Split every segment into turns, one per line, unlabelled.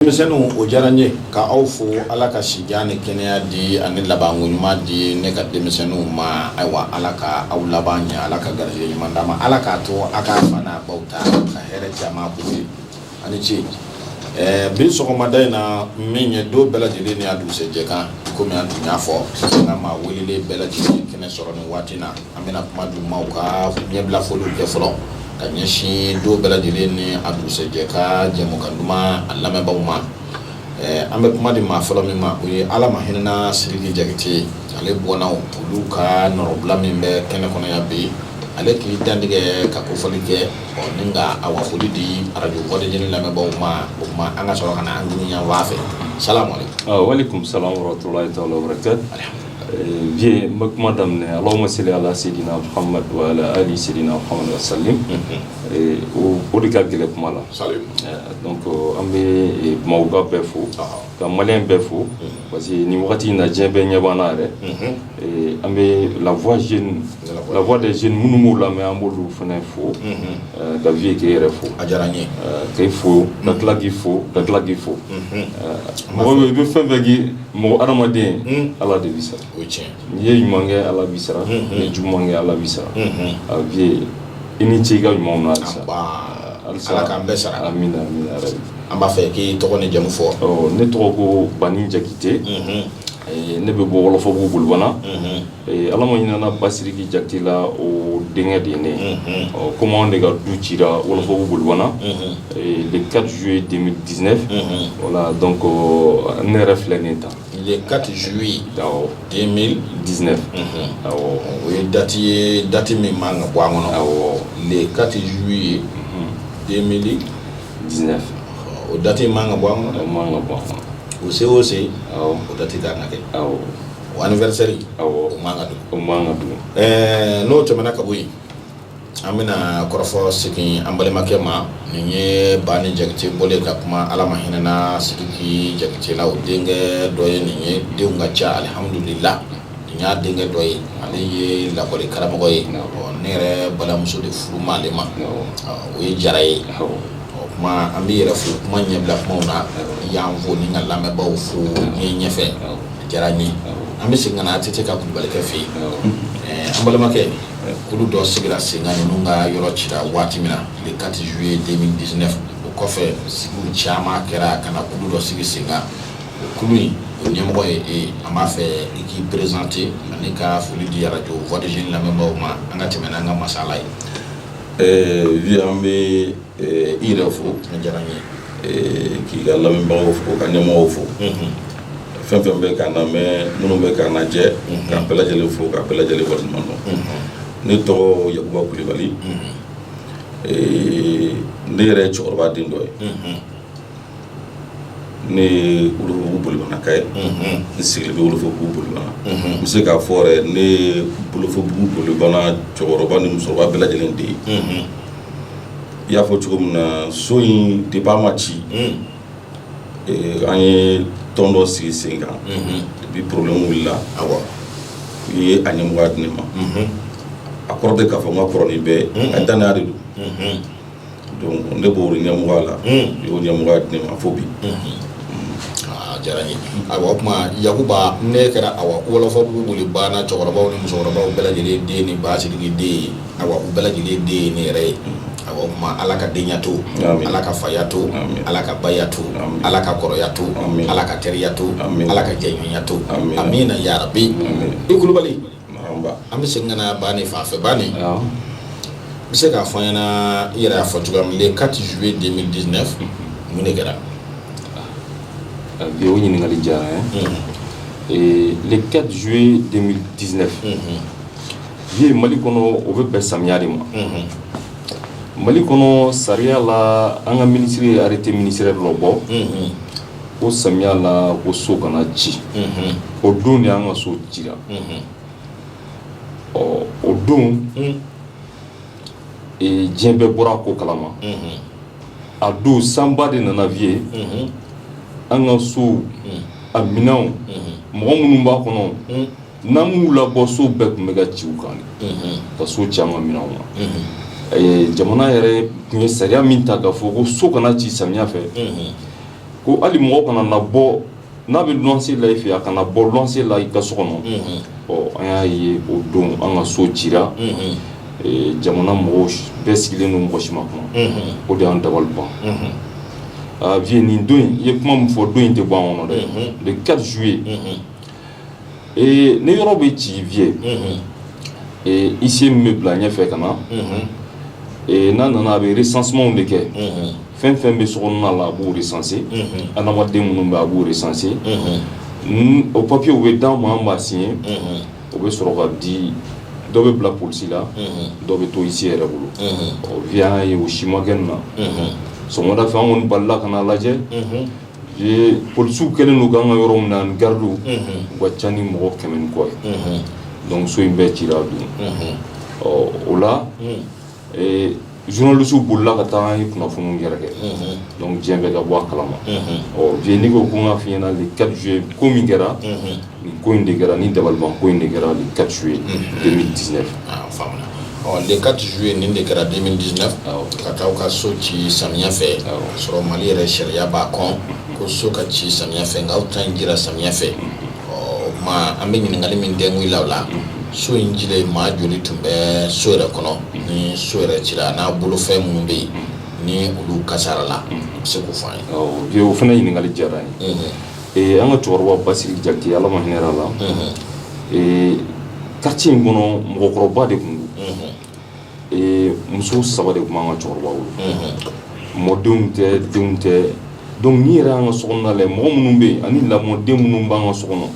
denmisɛnninw o diyara n ye ka aw fo ala ka sijan ni kɛnɛya di ani labanko ɲuman di ne ka denmisɛnninw ma ayiwa ala ka aw laban ɲɛ ala ka garijɛgɛ ɲuman d'a ma ala k'a to a ka fa n'a baw ta ka hɛrɛ caman k'u ye a ni ce ɛɛ bi sɔgɔmada in na min ye don bɛɛ lajɛlen ni a dugusɛjɛ kan komi an tun y'a fɔ an ka maa welelen bɛɛ lajɛlen kɛnɛ sɔrɔ nin waati na An bɛna kuma di maaw ka ɲɛbilafoli kɛ fɔlɔ ka ɲɛsin don bɛɛ lajɛlen ni a dugusɛjɛ ka jɛmukan duman a lamɛnbaaw ma. Ɛɛ an bɛ kuma di maa fɔlɔ min ma, o ye Ala ma hinɛna Sidiki Jakite ye, ale bɔnna olu ka nɔrɔbila min bɛ kɛnɛ kɔnɔ yan bi, ale k'i dantigɛ ka kofɔli kɛ, ɔ ni ka a wa foli di radio voix des jeunes lamɛnbaaw ma, o tuma an ka sɔrɔ ka na an ɲini yan fan fɛ. Salamaleku. Ɔɔ walekumusala warahmatulahi
taala wabarakatu. Vieux n bɛ kuma daminɛ Allahumma salli alaa seydina Mohamed wa alaa ali seydina Mohamed wa salim o de ka gɛlɛn kuma la donc an bɛ Bamakɔka bɛɛ fo ka maliyɛn bɛɛ fo parce que nin wagati in na diɲɛ bɛɛ ɲɛ bɛ an na yɛrɛ an bɛ la voix jeune la voix des jeunes minnu b'u lamɛn an b'olu fana fo ka Vieux k'e yɛrɛ fo a diyara n ye
k'e fo
ka tila k'i fo ka tila k'i fo mɔgɔ bɛ yen i bɛ fɛn o fɛn k'i Mɔgɔ adamaden ala de b'i sara o cɛn n'i ye ɲuman kɛ ala b'i sara n'i ye juguman kɛ ala b'i sara a Vieux i ni ce i ka ɲuman na halisa ala
k'an bɛɛ sara amiina
an b'a fɛ k'i
tɔgɔ ni jamu fɔ ne tɔgɔ ko
bani jakite ne bɛ bɔ wɔlɔfɔbugu bolibana Ee ala ma hinɛna Basidiki jakite la o denkɛ de ye ne ye, unhun, ɔ komi anw de ka du cira wɔlɔfɔbugu bolibana, unhun, le 4 juillet 2019, unhun, voila donc ne yɛrɛ filɛ nin ye tan le 4
juillet 2019 awɔ, o ye date ye date min man kan ka bɔ an kɔnɔ, awɔ, le 4 juillet 2019 o date in man kan ka bɔ an kɔnɔ, o man kan ka bɔ an
kɔnɔ, o se o se
o date ka kan ka kɛ, awɔ o anniversaire awɔ o man ka dogo o man ka
dogo ɛɛ n'o tɛmɛna ka bɔ
yen an bɛna kɔrɔfɔ segin an balimakɛ ma nin ye bani jakite bɔlen ka kuma ala ma hinɛna sidiki jakite la o denkɛ dɔ ye nin ye denw ka ca alihamudulila nin y'a denkɛ dɔ ye ale ye lakɔli karamɔgɔ ye ne yɛrɛ balimamuso de furu ma ale ma o ye jara ye o kuma an b'i yɛrɛ fo kuma ɲɛbila kumaw na y'an fo ni ka lamɛnbaaw fo ni ɲɛfɛ Diyara n ye an bɛ segin ka na ATT ka kulubalikɛ fɛ yen, awɔ, an balimakɛ kulu dɔ sigira sen kan ninnu ka yɔrɔ cira waati min na le 4 juillet 2019 o kɔfɛ sigiw caman kɛra ka na kulu dɔ sigi sen kan o kulu in o ɲɛmɔgɔ ye e ye an b'a fɛ i k'i présenter ani ka foli di arajo voix des jeunes lamɛnbaaw ma an ka tɛmɛ n'an ka masala ye, ɛɛ, oui an bɛ
i yɛrɛ fo diyara n
ye k'i ka
lamɛnbagaw fo ka ɲɛmɔgɔw fo fɛn fɛn bɛ k'an lamɛn minnu bɛ k'an lajɛ ka bɛɛ lajɛlen fo ka bɛɛ lajɛlen waleɲuman dɔn ne tɔgɔ yakuba kulubali ne yɛrɛ ye cɛkɔrɔba den dɔ ye Ne ye wɔlɔfɔbugu bolibanaka ye n sigilen bɛ wɔlɔfɔbugu bolibana n bɛ se k'a fɔ yɛrɛ ne ye wɔlɔfɔbugu bolibana cɛkɔrɔba ni musokɔrɔba bɛɛ lajɛlen den ye i y'a fɔ cogo min na so in depuis a ma ci an ye tɔn dɔ sigi sen kan depuis problème wulila awa u ye a ɲɛmɔgɔya di ne ma a kɔrɔ tɛ k'a fɔ n ka kɔrɔ ni bɛɛ a dannaya de don ne b'o ɲɛmɔgɔya la u y'o ɲɛmɔgɔya di n ma fo bi
diyara n ye awa o tuma yakuba ne kɛra awa wɔlɔfɔbugu bolibana cɛkɔrɔbaw ni musokɔrɔbaw bɛɛ lajɛlen den ni ba sidiki den ye awa u bɛɛ lajɛlen den ye ne yɛrɛ ye awa o tuma ala ka denyaya to ala ka faya to ala ka baya to ala ka kɔrɔya to ala ka teriya to ala ka jɛɲɔgɔnya to amina yarabi i kulubali An bɛ segin ka na bani fan fɛ bani bɛ se k'a fɔ n ɲɛna i yɛrɛ y'a fɔ cogoya min le 4 juillet 2019 mun de kɛra
o ɲininkali diyara n ye le 4 juillet 2019 vieux mali kɔnɔ o bɛ bɛn samiya de ma mali kɔnɔ sariya la an ka minisiri ye arrêté ministériel dɔ bɔ ko samiya la ko so kana ci o don de an ka so cira ɔ o don diɲɛ bɛɛ bɔra ko kalama a don sanba de nana vieux an ka so a minɛnw mɔgɔ minnu b'a kɔnɔ N'an m'u labɔ so bɛɛ tun bɛ ka ci u kan ka so ci an ka minɛnw ma jamana yɛrɛ tun ye sariya min ta k'a fɔ ko so kana ci samiya fɛ ko hali mɔgɔ kana labɔ n'a bɛ luwanse la i fɛ a kana labɔ luwanse la i ka so kɔnɔ ɔ an y'a ye o don an ka so cira jamana mɔgɔw bɛɛ sigilen don mɔgɔ si ma kuma o de y'an dabali ban a vieux nin don i ye kuma min fɔ don in tɛ bɔ an kɔnɔ dɛ le 4 juillet Ni yɔrɔ bɛ ci vieux huissier min bɛ bila ɲɛ fɛ ka na n'a nana a bɛ recensement de kɛ fɛn fɛn bɛ so kɔnɔna la a b'u recenser adamaden minnu bɛ a b'u recenser o papiyew bɛ d'an ma an b'a siɲɛ o bɛ sɔrɔ ka di dɔ bɛ bila polisi la dɔ bɛ to huissier yɛrɛ bolo ɔ vieux an y'a ye o si ma kɛ nin na sɔgɔmada fɛ an kɔni balila ka n'a lajɛ Ee polisiw kɛlen don k'an ka yɔrɔ minɛ ani garidiw, unhun, u ka ca ni mɔgɔ kɛmɛ ni kɔ ye, unhun, donc so in bɛɛ cira a don, unhun, ɔ o la, un, ee journalistes bolila ka taa an ye kunnafoniw yɛrɛkɛ, unhun, donc diɲɛ bɛɛ ka bɔ a kalama, unhun, ɔ Vieux n'i ko ko n k'a fɔ i ɲɛna le 4 juillet ko min kɛra, unhun Nin ko in de kɛra nin dabaliban ko in de kɛra le 4 juillet 2019 an y'a
faamuya ɔ le 4 juillet nin de kɛra 2019 awɔ ka taa aw ka so ci samiya fɛ awɔ k'a sɔrɔ mali yɛrɛ sariya b'a kɔn ko so ka ci samiya fɛ nka aw ta in cira samiya fɛ ɔ ma an bɛ ɲininkali min dɛngu i la o la so in cilen maa joli tun bɛ so yɛrɛ kɔnɔ ni so yɛrɛ cira n'a bolofɛn minnu bɛ yen ni olu kasara la a bɛ se k'o fɔ an ye awɔ Vieux o fana ɲininkali
diyara n ye Mhm. Ee an ka cɛkɔrɔba Basiri Jakite ala ma hinɛ a la ee quartier in kɔnɔ mɔgɔkɔrɔba de tun don ee muso saba de tun b'an ka cɛkɔrɔba bolo mɔdenw tɛ denw tɛ donc nin yɛrɛ an ka so kɔnɔna la mɔgɔ minnu bɛ yen ani lamɔden minnu b'an ka so kɔnɔ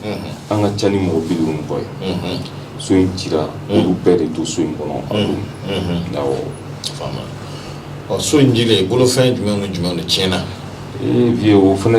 an ka ca ni mɔgɔ bi duuru ni kɔ ye so in cira olu bɛɛ de to so in
kɔnɔ a don so in cilen bolofɛn jumɛn ni jumɛn de tiɲɛna ee
Vieux o fana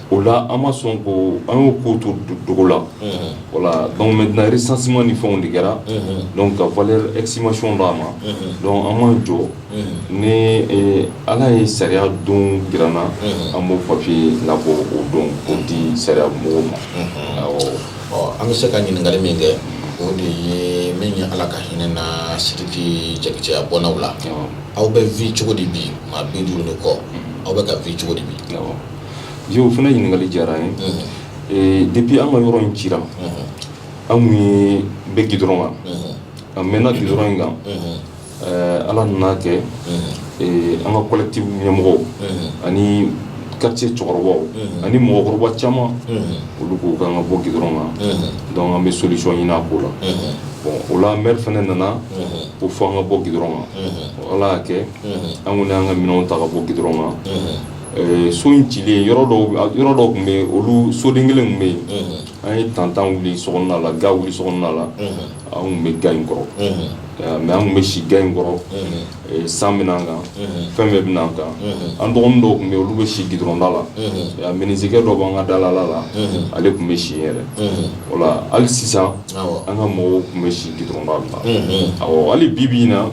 o la an ma sɔn ko an y'o ko to dogo la voilà donc maintenant recensement ni fɛnw de kɛra donc ka valeur estimation d'a ma donc an ma jɔ ni ala ye sariya don jira an na an b'o papier labɔ o don k'o di sariya mɔgɔw ma ɔ an bɛ se
ka ɲininkali min kɛ o de ye nin ye ala ka hinɛ na Siriki Jakite a bɔnnaw la aw bɛ vivre cogo di bi maa bi duuru ni kɔ aw bɛ ka vivre cogo di bi Vieux o
fana ɲininkali diyara n ye ee depuis an ka yɔrɔ in cira an tun bɛ gidɔrɔn kan an mɛnna gidɔrɔn in kan ala nana kɛ an ka collectif ɲɛmɔgɔw ani quartier cɛkɔrɔbaw ani mɔgɔkɔrɔba caman olu ko k'an ka bɔ gidɔrɔn kan donc an bɛ solution ɲini a ko la o la maire fana nana k'o fɔ an ka bɔ gidɔrɔn kan ala y'a kɛ an kɔni y'an ka minɛnw ta ka bɔ gidɔrɔn kan So in cilen yɔrɔ yɔrɔ dɔ tun bɛ yen olu soden kelen tun bɛ yen an ye tantan wuli so kɔnɔna la ga wuli so kɔnɔna la an tun bɛ ga in kɔrɔ mais an tun bɛ si ga in kɔrɔ san bɛ na an kan fɛn bɛɛ bɛ na an kan an dɔgɔnin dɔw tun bɛ yen olu bɛ si gidɔrɔnda la minizekɛ dɔ b'an ka dalala la ale tun bɛ si yɛrɛ o la hali sisan an ka mɔgɔw tun bɛ si gidɔrɔnda la hali bi bi in na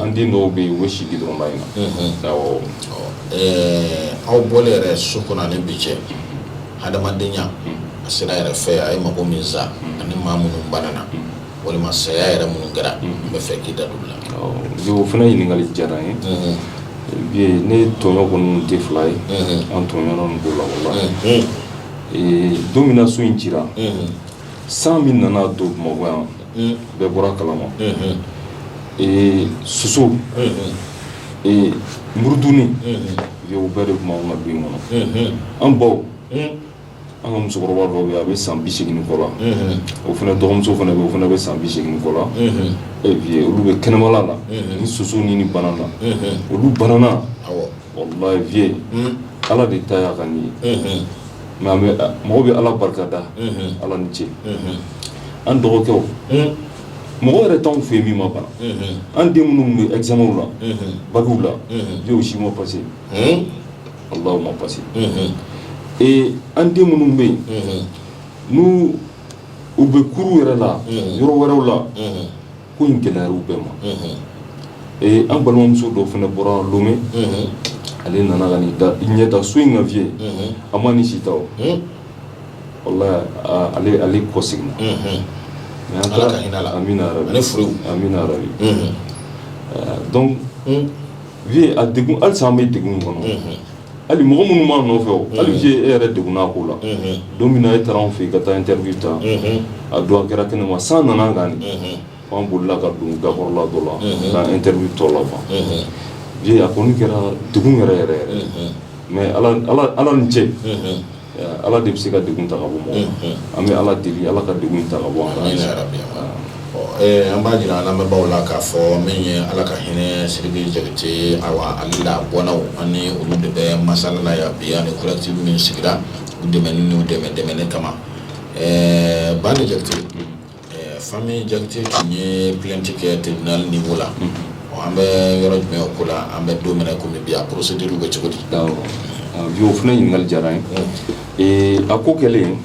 an den dɔw bɛ yen u bɛ si gidɔrɔnda in na
Ɛɛ aw bɔlen yɛrɛ so kɔnɔ ani bi cɛ hadamadenya a sera yɛrɛ fɛ a ye mago min sa ani maa minnu banana walima saya yɛrɛ minnu kɛra n bɛ fɛ k'i da don la o fana ɲininkali
diyara n ye ne tɔɲɔ kɔni tɛ fila ye an tɔɲɔna nin ko la walahi don min na so in cira san min nana don bamakɔ yan bɛɛ bɔra a kalama soso murutilen o bɛɛ de tun b'anw ka du in kɔnɔ an baw an ka musokɔrɔba dɔ bɛ yen a bɛ san bi segin kɔ la o fana dɔgɔmuso fana bɛ yen o fana bɛ san bi segin kɔ la olu bɛ kɛnɛma la ni soso ni ni banana olu banana Walahi vieux ala de ta y'a ka nin ye nka mɔgɔ bɛ ala barika da ala ni ce an dɔgɔkɛw mɔgɔ yɛrɛ t'anw fɛ yen min ma bana an den minnu bɛ examenw la bakiw la vieux u si ma passé ala ma passé ee an den minnu bɛ yen n'u u bɛ kuru yɛrɛ la yɔrɔ wɛrɛw la ko in gɛlɛyara u bɛɛ ma ee an balimamuso dɔ fana bɔra lomɛ ale nana ka n'i da ɲɛ da so in kan vieux a ma ni si ta o walahi ale kɔ seginna mɛ
an taara
amina amina yarabi donc vieux a degun halisa an bɛ degun kɔnɔ Hali mɔgɔ minnu b'a nɔfɛ o hali vieux e yɛrɛ degunna ko la don min na e taara anw fɛ yen ka taa interview ta a don a kɛra kɛnɛma san nana an kan anw bolila ka don gakɔrɔla dɔ la ka interview tɔ laban vieux a kɔni kɛra degun yɛrɛ yɛrɛ yɛrɛ mais ala ni ce Ala de bɛ se ka degun ta ka bɔ an bɛ ala deli ala ka degun ta ka bɔ an
an b'a jira an lamɛnbaaw la k'a fɔ min ye ala ka hinɛ sidiki jakite ale la bɔnnaw ani olu de bɛ masala la yan bi ani collectif min sigira u dɛmɛni n'u dɛmɛ dɛmɛni kama ɛɛ bani jakite Famille jakite tun ye plainte kɛ tribunal niveau la an bɛ yɔrɔ jumɛn o ko la an bɛ don min na kɔmi bi a procédure bɛ cogo di bi
o fana ɲininkali diyara n ye a ko kɛlen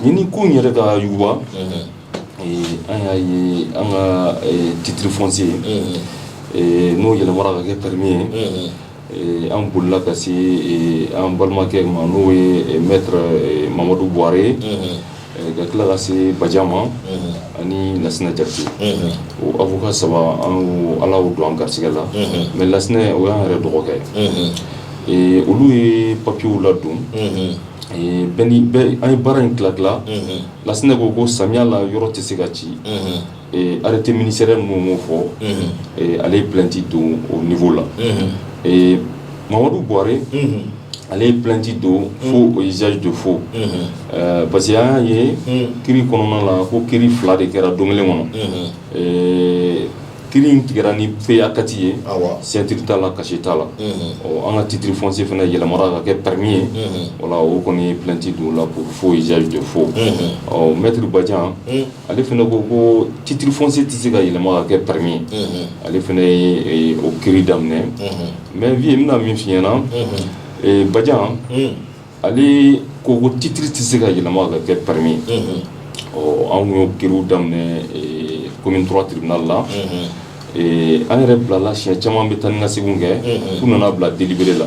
ɲini ko yɛrɛ ka yuguba an y'a ye an ka titre foncier n'o yɛlɛmara ka kɛ permis ye An bolila ka se an balimakɛ ma n'o ye maître mamadu buwarɛ ye ka tila ka se bajan ma ani lasinɛ jakite o avocat saba an ala y'o don an garisɛgɛ la mais lasinɛ o y'an yɛrɛ dɔgɔkɛ ye olu ye papiyew ladon an ye baara in tila tila lasinɛ ko ko samiya la yɔrɔ tɛ se ka ci Arrêté ministériel mun b'o fɔ, unhun, ale ye plainte don o niveau la, unhun, ɛɛ Mamadu Buware ale ye plainte don faux et usage de faux ɛɛ parce que an y'a ye kiri kɔnɔna la ko kiri fila de kɛra don kelen kɔnɔ, unhun, ɛɛ kiri in tigɛra ni PACATI ye, awɔ, signature t'a la cachet t'a la, unhun, ɔ an ka titre foncier fana yɛlɛmara ka kɛ permis ye, unhun, voilà o kɔni ye plainte don o la pour faux et usage de faux, unhun, ɔ maître Badian ale fana ko ko titre foncier tɛ se ka yɛlɛma ka kɛ permis ye ale fana y'o kiri daminɛ mais vieux n bɛna min f'i ɲɛ na Badian ale ko ko titre tɛ se ka yɛlɛma ka kɛ permis ɔ anw y'o kiriw daminɛ commune trois tribunal la an yɛrɛ bilala siɲɛ caman bɛ taa ni ka segin kɛ f'u nana bila délibéré la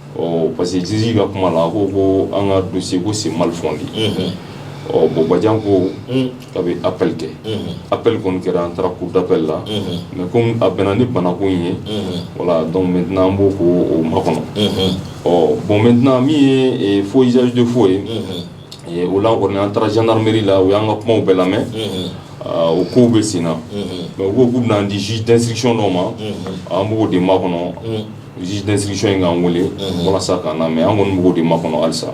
ɔ parce que juge ka kuma la a ko ko an ka dossier ko c'est mal fondé unhun ɔ bon Badian ko un k'a bɛ appel kɛ unhun appel kɔni kɛra an taara cour d'appel la unhun mais comme a bɛnna ni banako in ye unhun voilà donc maintenant an b'o ko o makɔnɔ unhun ɔ bon maintenant min ye eh, faux usage de faux ye unhun eh, o la kɔni an taara gendarmerie la u y'an ka kumaw bɛɛ lamɛn unhun ah, o kow bɛ sen na unhun mais u ko k'u bɛna an di juge d'instruction dɔ ma unhun an b'o de makɔnɔ un juge d'instruction in k'an weele walasa k'an lamɛn an kɔni b'o de makɔnɔ
halisa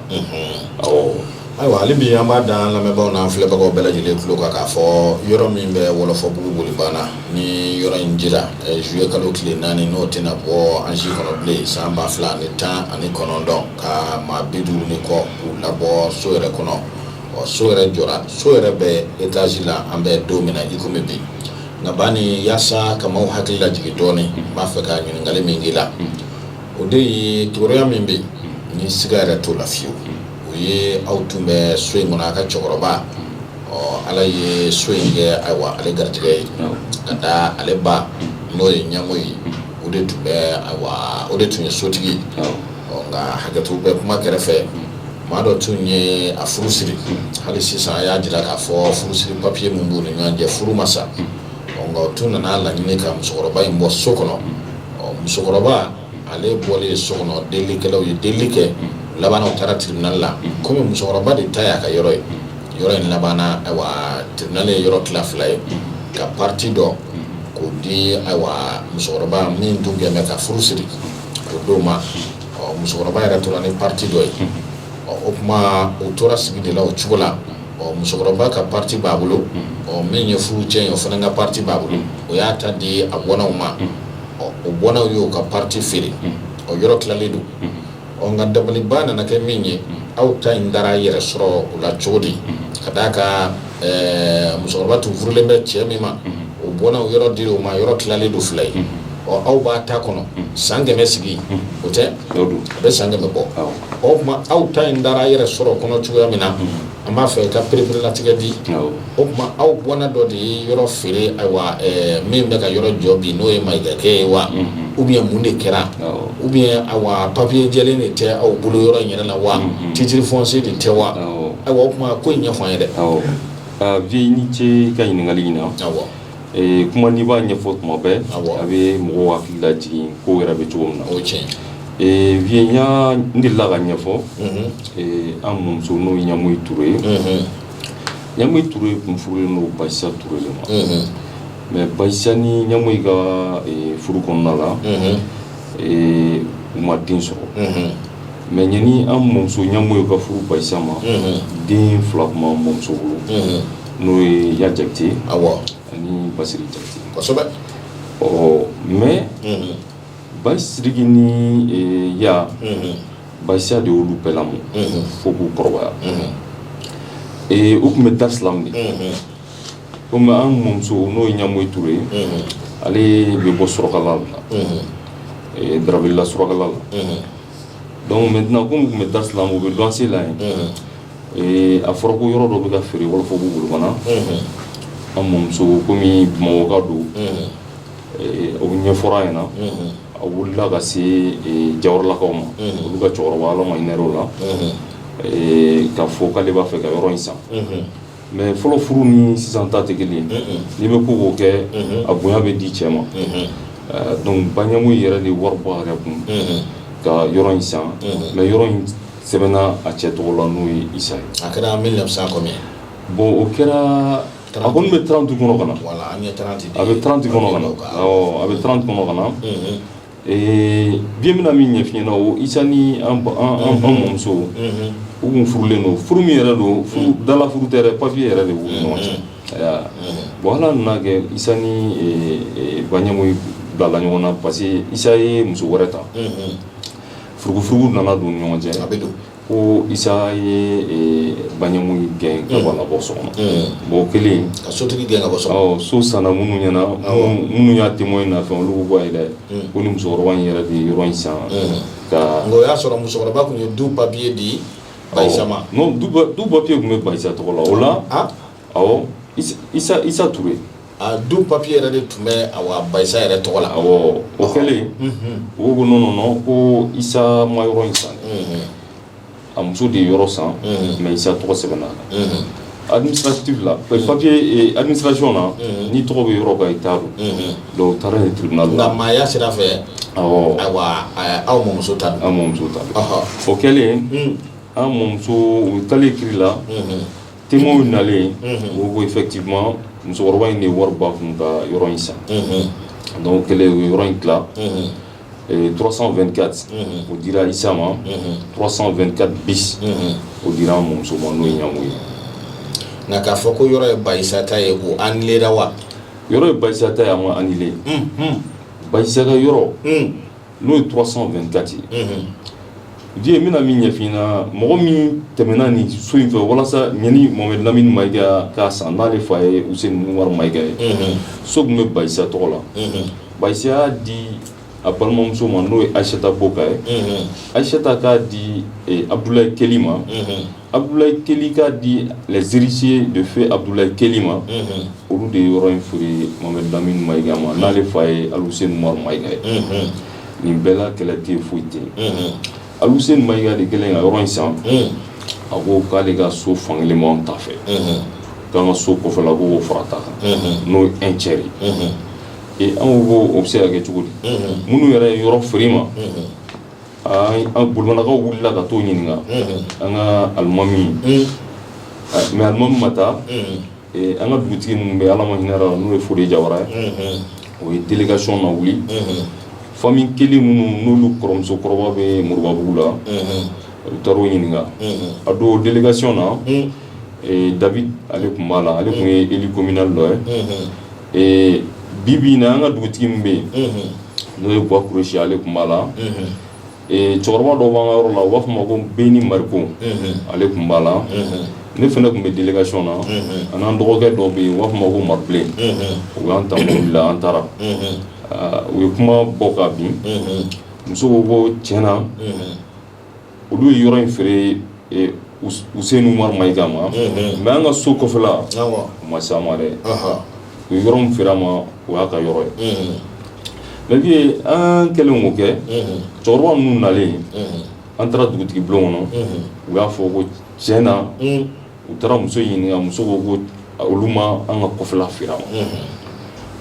ayiwa hali bi an b'a da an lamɛnbagaw n'an filɛbagaw bɛɛ lajɛlen tulo kan k'a fɔ yɔrɔ min bɛ Wɔlɔfɔbugu Bolibana ni yɔrɔ in dira zuye kalo tile naani n'o tɛna bɔ an si kɔnɔ bilen san ba fila ani tan ani kɔnɔntɔn ka maa bi duuru ni kɔ k'u labɔ so yɛrɛ kɔnɔ ɔ so yɛrɛ jɔra so yɛrɛ bɛ étage la an bɛ don min na i komi bi nka Bani yaasa ka maaw hakili lajigin dɔɔnin n b'a fɛ ka ɲininkali min k'i la o de ye kibaruya min bɛ ni siga yɛrɛ t'o la fiyewu o ye aw tun bɛ so in kɔnɔ a ka cɛkɔrɔba ɔ ala ye so in kɛ ayiwa ale garijɛgɛ ye ka taa ale ba n'o ye Ɲamoyi ye o de tun bɛ ayiwa o de tun ye sotigi nka hakɛto bɛ kuma kɛrɛfɛ maa dɔ tun ye a furu siri hali sisan a y'a jira k'a fɔ furusiri papiye min b'u ni ɲɔgɔn cɛ furu ma sa nka o tun nana laɲini ka musokɔrɔba in bɔ so kɔnɔ musokɔrɔba ale bɔlen so kɔnɔ delikɛlaw ye deli kɛ laban u taara tribunal la kɔmi musokɔrɔba de ta y'a ka yɔrɔ ye yɔrɔ in labanna ayiwa tribunal ye yɔrɔ tila fila ye ka pati dɔ k'o di ayiwa musokɔrɔba min tun gɛn ka furu siri k'o d'o ma ɔ musokɔrɔba yɛrɛ tora ni pati dɔ ye ɔ o tuma u tora sigi de la o cogo la ɔ musokɔrɔba ka pati b'a bolo ɔ min ye furu cɛ ye o fana ka pati b'a bolo o y'a ta di a bɔnnaw ma ɔ o bɔnnaw y'o ka pati feere o yɔrɔ tilalen don Ɔ nka dabaliban nana kɛ min ye aw ta in taara yɛrɛ sɔrɔ o la cogo di ka d'a kan musokɔrɔba tun furulen bɛ cɛ min ma o bɔnnaw yɔrɔ di dɔ ma yɔrɔ tilalen don fila ye ɔ aw b'aw ta kɔnɔ san kɛmɛ sigi o tɛ a bɛ san kɛmɛ bɔ o tuma aw ta in taara yɛrɛ sɔrɔ kɔnɔ cogoya min na an b'a fɛ i k'a pereperelatigɛ dɛ O tuma aw bɔnna dɔ de ye yɔrɔ feere ayiwa min bɛ ka yɔrɔ jɔ bi n'o ye mayigakɛ ye wa ou bien mun de kɛra ou bien papiye jɛlen de tɛ aw bolo yɔrɔ yɛrɛ la wa titre foncier de tɛ wa ayiwa o tuma ko ɲɛfɔ ye dɛ ɔ
vieux i ni ce i ka ɲininkali in
na kuma
n'i b'a ɲɛfɔ tuma bɛɛ a bɛ mɔgɔ hakili lajigin ko yɛrɛ bɛ cogo min na o cɛ
vieux
ya n la ka ɲɛfɔ an mɔmuso n'o ɲamuyi ture ye ɲamuyi ture kun furulen don ba isa ture de ma mɛ ba isa ni ɲamuyi ka furu kɔnɔna la u ma den sɔrɔ mɛ ɲani an mɔmuso ɲamuyi ka furu ba isa ma den fila tun b'an mɔmuso bolo n'o ye ya jakite
ani
basiriki jakite
kosɛbɛ ɔ
mɛ basiriki ni ya Ba isa de y'olu bɛɛ lamɔ fo k'u kɔrɔbaya ee u tun bɛ darisalamu ni o tuma an mɔmuso n'o ye ɲamuyi ture ye ale bɛ bɔ surakala la daravela surakala la dɔnku mɛntɛnan kɔmi u tun bɛ darisalamu u bɛ luwanse la yen a fɔra ko yɔrɔ dɔ bɛ ka feere wɔlɔfɔbugu bolibana an mɔmuso kɔmi bamakɔka don O ɲɛfɔra a ɲɛ na a wulila ka se jawaralakaw ma olu ka cɛkɔrɔba ala ma hinɛ o la k'a fɔ k'ale b'a fɛ ka yɔrɔ in san mɛ fɔlɔ furu ni sisan ta tɛ kelen n'i bɛ ko o ko kɛ a bonya bɛ di cɛ ma dɔnku ba ɲamuyi yɛrɛ de ye wari bɔ a yɛrɛ kun ka yɔrɔ in san mɛ yɔrɔ in sɛbɛnna a cɛ tɔgɔ la n'o ye isa ye a kɛra
bɔn o kɛra
A kun bɛ tranti kɔnɔ ka na
a bɛ
tranti a bɛ tranti kɔnɔ ka na bi n bɛna min ɲɛfɔ i ɲɛ na o isa ni an mɔmuso u tun furulen don furu min yɛrɛ don dala furu tɛ papiye yɛrɛ de don ala nana kɛ isa ni ba ɲamuyi bilala ɲɔgɔn na parce que isa ye muso wɛrɛ ta furugufurugu nana don ɲɔgɔn cɛ a bɛ don
Ko
isa ye ba ɲamuyi gɛn ka bɔ bɔ so kɔnɔ bon kelen ka sotigi gɛn ka bɔ
so so sanna minnu ɲɛ
na minnu y'a témoin na fɛn olu bɔ ye dɛ ko ni musokɔrɔba in yɛrɛ de ye yɔrɔ in san nka o y'a sɔrɔ
musokɔrɔba tun ye du papiye di ba isa ma n'o du
papiye tun bɛ ba isa tɔgɔ la o la ɔ isa isa ture a don
papier yɛrɛ de tun bɛ a ba isa yɛrɛ tɔgɔ la a o
kɛlen u ko non non ko isa ma yɔrɔ in san a muso de ye yɔrɔ san mais isa tɔgɔ sɛbɛnna administratif la papier administration na n'i tɔgɔ bɛ yɔrɔ kan i ta don dɔw taara tribunal la nka maaya sira
fɛ ayiwa aw mɔmuso ta an mɔmuso ta o kɛlen an mɔmuso u taalen kiri la Te nalen mɔgɔw ko fɛti musokɔrɔba in de wari ba kun ka yɔrɔ in san n' kɛlen ye yɔrɔ in dila turasan2kati o dira isa ma turasan2ka bi o dira muso n'o ye ɲɔngo ye nka k'a fɔ ko yɔrɔ ye basata ye ko an lera wa yɔrɔ ye basata
ye an ma an ba yɔrɔ n'o ye 324 ye diɲɛ bɛna min ɲɛfin na mɔgɔ min tɛmɛna ni so in fɛ walasa ɲani mohamed lamini mayiga k'a san n'ale fa ye useni umar mayiga ye so tun bɛ ba isa tɔgɔ la ba isa y'a di a balimamuso ma n'o ye ayiseta bɔkan ye ayiseta k'a di abudulayi keli ma Abudulayi keli k'a di les héritiers de feu abudulayi keli ma olu de ye yɔrɔ in feere mohamed lamini mayiga ma n'ale fa ye aluseyini mayiga ye nin bɛɛla kɛlɛ tɛ foyi tɛ aluseyini mayiga de kɛlen ka yɔrɔ in san a ko k'ale ka so fan kelen ta fɛ k'an ka so kɔfɛla k'o fara a ta kan n'o ye cɛ ee an ko o bɛ se ka kɛ cogo di minnu yɛrɛ ye yɔrɔ feere i ma an bolonnakaw wulila ka t'u ɲininka an ka alimami mais alimami ma taa an ka dugutigi min bɛ ala ma hinɛ a la n'o ye fode jawara ye o ye délégation lawuli famille keli minnu n'olu kɔrɔmusokɔrɔba bɛ moribabugu la u taara u ɲininka a don délégation na david ale tun b'a la ale tun ye élu communal dɔ ye Ee bi bi na an ka dugutigi min bɛ yen n'o ye buwa kureyisi ale tun b'a la cɛkɔrɔba dɔ b'an ka yɔrɔ la u b'a fɔ a ma ko beni mariko ale tun b'a la ne fana tun bɛ délégation na ani an dɔgɔkɛ dɔ bɛ yen u b'a fɔ a ma ko mabilen u y'an ta mobili la an taara u ye kuma bɔ ka bin musow ko ko tiɲɛ na olu ye yɔrɔ in feere useni umar mayiga ma mais an ka so kɔfɛla u ma se a ma dɛ u ye yɔrɔ min feere a ma o y'a ka yɔrɔ ye mais bi an kɛlen k'o kɛ cɛkɔrɔba ninnu nalen an taara dugutigi bulon kɔnɔ u y'a fɔ ko tiɲɛ na u taara muso ɲininka muso ko ko olu ma an ka kɔfɛla feere a ma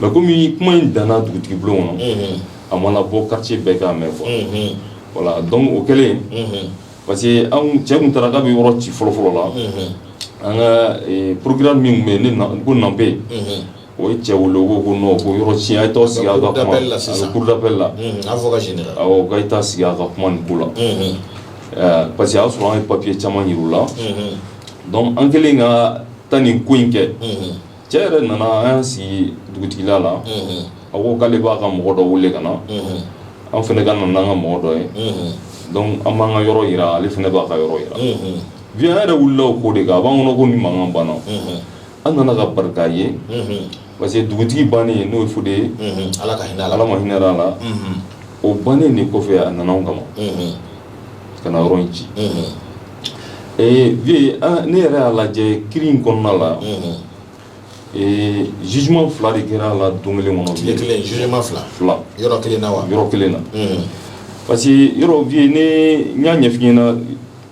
mais kɔmi kuma in danna dugutigi bulon kɔnɔ a ma na bɔ quartier bɛɛ k'a mɛn quoi voilà donc o kɛlen parce que cɛ tun taara k'a bɛ yɔrɔ ci fɔlɔfɔlɔ la an ka procureur min tun bɛ yen ko Nanpe O ye cɛ wele ko non ko yɔrɔ ci a ye taa sigi a ka kuma cour d'appel la k'a ye taa sigi a ka kuma nin ko la ɛɛ parce que a y'a sɔrɔ an ye papiye caman jir'u la an kɛlen ka taa nin ko in kɛ cɛ yɛrɛ nana an y'an sigi dugutigila la a ko k'ale b'a ka mɔgɔ dɔ wele ka na an fana ka na n'an ka mɔgɔ dɔ ye an b'an ka yɔrɔ jira ale fana b'a ka yɔrɔ jira vieux an yɛrɛ wulila o ko de kan a b'an kɔnɔ ko nin mankan banna An nana ka barika ye parce que dugutigi bannen n'o ye Fode ye ala ma hinɛ a la o bannen de kɔfɛ a nana an kama ka na yɔrɔ in ci vieux ne yɛrɛ y'a lajɛ kiri in kɔnɔna la ee jugement fila de kɛra a la don kelen kɔnɔ
yɔrɔ kelen na yɔrɔ kelen na
parce que yɔrɔ vieux ne y'a ɲɛf'i ɲɛna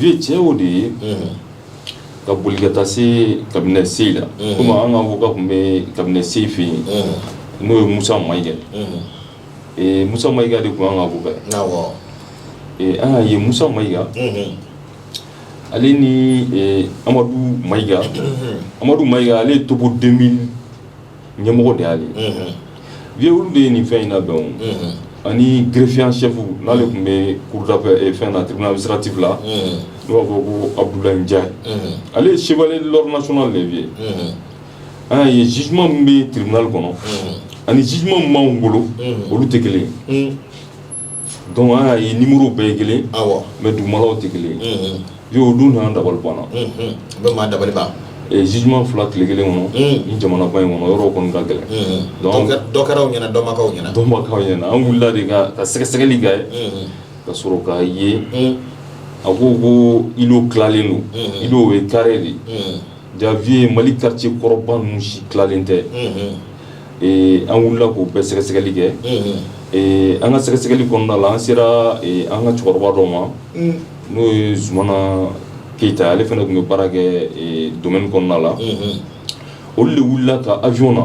ye tiɲɛ o de ye ka boli ka taa se kabila se la kɔmi an ka mɔgɔw ka tun bɛ kabila se fɛ yen n'o ye mu ma ɲi kɛ mu ma ika de tun an ka bɛɛ an ye mu ma ika ale ni amadu ma ika amadu ma ika ale ye toden ɲɛmɔgɔ de y'ale ye vieux olu de ye nin fɛn in labɛn o ani greffier en chef n'ale tun bɛ cour d'appel fɛn na tribunal administratif la n'o b'a fɔ ko Abudulayi Njayi ale ye chevalier de l'ordre national de ye vieux an y'a ye jugement min bɛ tribunal kɔnɔ ani jugement min b'anw bolo olu tɛ kelen ye donc an y'a ye numéros bɛɛ ye kelen mais dugumalaw tɛ kelen ye. Vieux o don na an dabali banna unhun o bɛ maa
dabali ban ee jugement
2 tile 1 kɔnɔ uun nin jamanaba in kɔnɔ yɔrɔ o kɔni ka gɛlɛn unhun donc an bɛ dɔ kɛra aw
ɲɛna dɔ ma k'aw ɲɛna dɔ ma k'aw ɲɛna an wulila de
ka ka sɛgɛsɛgɛli kɛ unhun ka sɔrɔ k'a ye uun a ko ko îlot tilalen don unhun îlot o ye carré de ye unhun Jaa vieux mali quartier kɔrɔba ninnu si tilalen tɛ an wulila k'u bɛɛ sɛgɛsɛgɛli kɛ an ka sɛgɛsɛgɛli kɔnɔna la an sera an ka cɛkɔrɔba dɔ ma n'o ye zumana keyita ale fana tun bɛ baara kɛ domaine kɔnɔna la olu de wulila ka avion na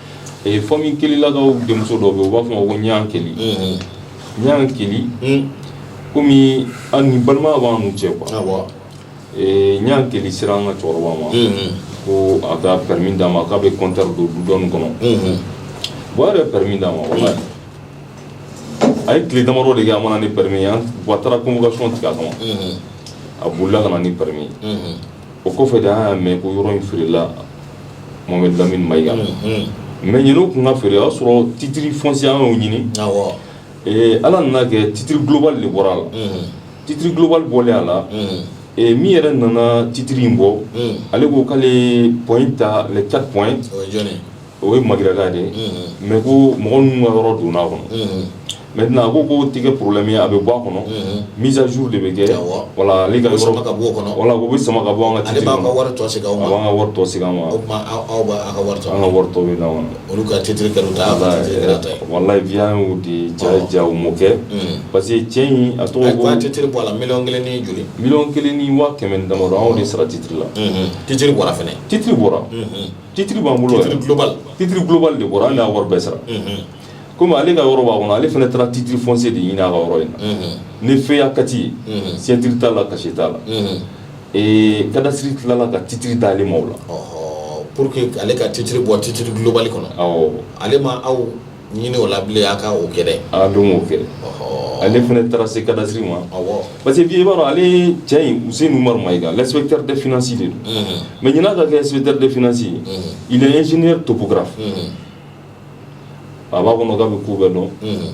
ee famille kelilakaw denmuso dɔ bɛ yen u b'a fɔ ma ko ɲan keli ɲan keli komi an ni balimaya b'an n'u cɛ quoi ee ɲan keli sera an ka cɛkɔrɔba ma ko a ka permis d'a ma k'a bɛ compteur don du dɔɔni kɔnɔ bon a yɛrɛ permis d'a ma voilà a ye tile damadɔ de kɛ a ma na ni permis ye an bon a taara convocation tigɛ a kama a bolila ka na ni permis ye o kɔfɛ de an y'a mɛ ko yɔrɔ in feerela Mohamed Lamini Mayiga ma, unhun, mais yanni u tun k'a feere o y'a sɔrɔ titre foncier an y'o ɲini, awɔ, ee Ala nana kɛ titre global de bɔra a la, unhun, titre global bɔlen a la, unhun, ee min yɛrɛ nana titre in bɔ, unhun, ale ko k'ale ye point ta les 4 points o ye jɔni ye? O ye magɛrɛkan de ye mɛ ko mɔgɔ minnu ka yɔrɔ donna a kɔnɔ mɛ tɛna a ko ko tɛgɛ porolenmi ye a bɛ bɔ a kɔnɔ mitu de bɛ kɛ wala ale ka bɔ kɔnɔ wala bɛ sama ka bɔ an ka
ma wari tɔ se
ka
ma
olu ka ci
wala de
ja mɔ kɛ parce que cɛ in a tɔgɔ ci bɔ a la mi kelen
ni joli mi kelen ni waa
kɛmɛ dama anw de sara citiriri la ci bɔra fana
citiriri bɔra
titre b'an bolo titre global titre global de bɔra a la an y'a wari bɛɛ sara komi ale ka yɔrɔ b'a kɔnɔ ale fana taara titre foncier de ɲini a ka yɔrɔ in na ni feuille A4 ye signature t'a la cachet t'a la cadastre tilala ka titre d'ale ma o la pour que
ale ka titre bɔ titre global kɔnɔ awɔ ale ma
aw
ɲini o la bilen a ka o kɛ dɛ, a dun m'o
kɛ, ɔhɔ, ale fana taara se cadastre ma, awɔ, parce que bi i b'a dɔn ale cɛ in Useni Umaru Mayiga l'inspecteur des finances de don, unhun, mais yanni a ka kɛ inspecteur des finances ye, unhun, il est ingénieur topographe unhun, a b'a kɔnɔ k'a bɛ ko bɛɛ dɔn, unhun,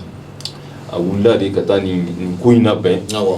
a wulila de ka taa nin ko in labɛn, awɔ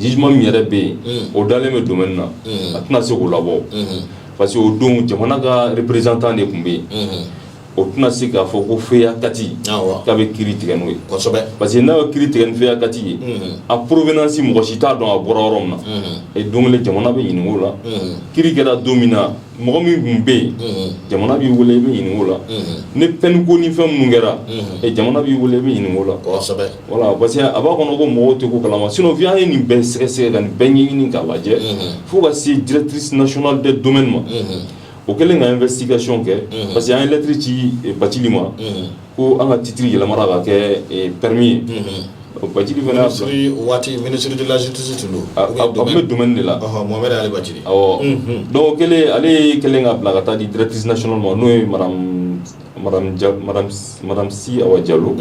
jugement min yɛrɛ bɛ yen, unhun, o dalen bɛ domaine na, unhun, a tɛna se k'o labɔ, unhun, parce que o don jamana ka représentant de tun bɛ yen, unhun, o tɛna se k'a fɔ ko feuille A4 awɔ, k'a bɛ kiri tigɛ n'o ye, kosɛbɛ, parce que n'a ye kiri tigɛ ni feuille A4 ye, unhun, a provenance mɔgɔ si t'a dɔn a bɔra yɔrɔ min na, unhun, et don kelen jamana bɛ ɲininka o la, unhun, kiri kɛra don min na Mɔgɔ min tun bɛ yen jamana b'i weele i bɛ ɲininka o la ni fɛn ko ni fɛn minnu kɛra jamana b'i weele i bɛ ɲininka o la voilà parce que a b'a kɔnɔ ko mɔgɔw tɛ ko kalama sinon fi an ye nin bɛɛ sɛgɛsɛgɛ ka nin bɛɛ ɲɛɲini k'a lajɛ fo ka se directrice nationale des domaines ma o kɛlen ka investigation kɛ parce que an ye lettre ci Bacili ma ko an ka citiriri yɛlɛma ka kɛ pɛreme ye baji waati
minisirilasitu tun don a bɛ dumuni de
la mɔmɛale baji
dɔw
kɛlen ale ye kɛlen ka bila ka taa di dtiinaso ma n'o ye si jalo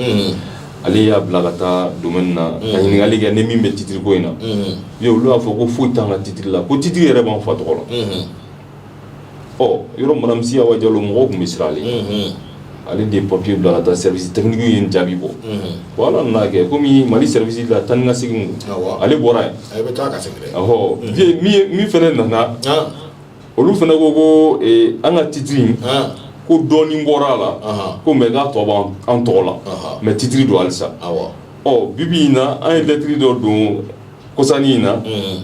ale y'a bila ka taa dumuni na ka ɲininkakali kɛ ni min bɛ citiriri ko in na olu y'a fɔ ko foyi tan ka citiriri la ko citiriri yɛrɛ b'an fa tɔgɔ la ɔ yɔrɔ madame Si Awa Jalo mɔgɔw tun bɛ siran ale ɲɛ ale de ye papier bila ka taa service technique ye nin jaabi bɔ bon Ala nan'a kɛ komi Mali service la taa ni ka segin don awɔ ale bɔra yen a bɛ taa ka segin dɛ ɔhɔ vieux min ye min fɛnɛ nana han olu fɛnɛ ko ko ee an ka titre in han ko dɔɔnin bɔra a la Ahan. ko mais k'a tɔ b'an tɔgɔ la Ahan. mais titre don halisa awɔ ɔ bibi in na an ye lettre dɔ don kɔsanin in na unhun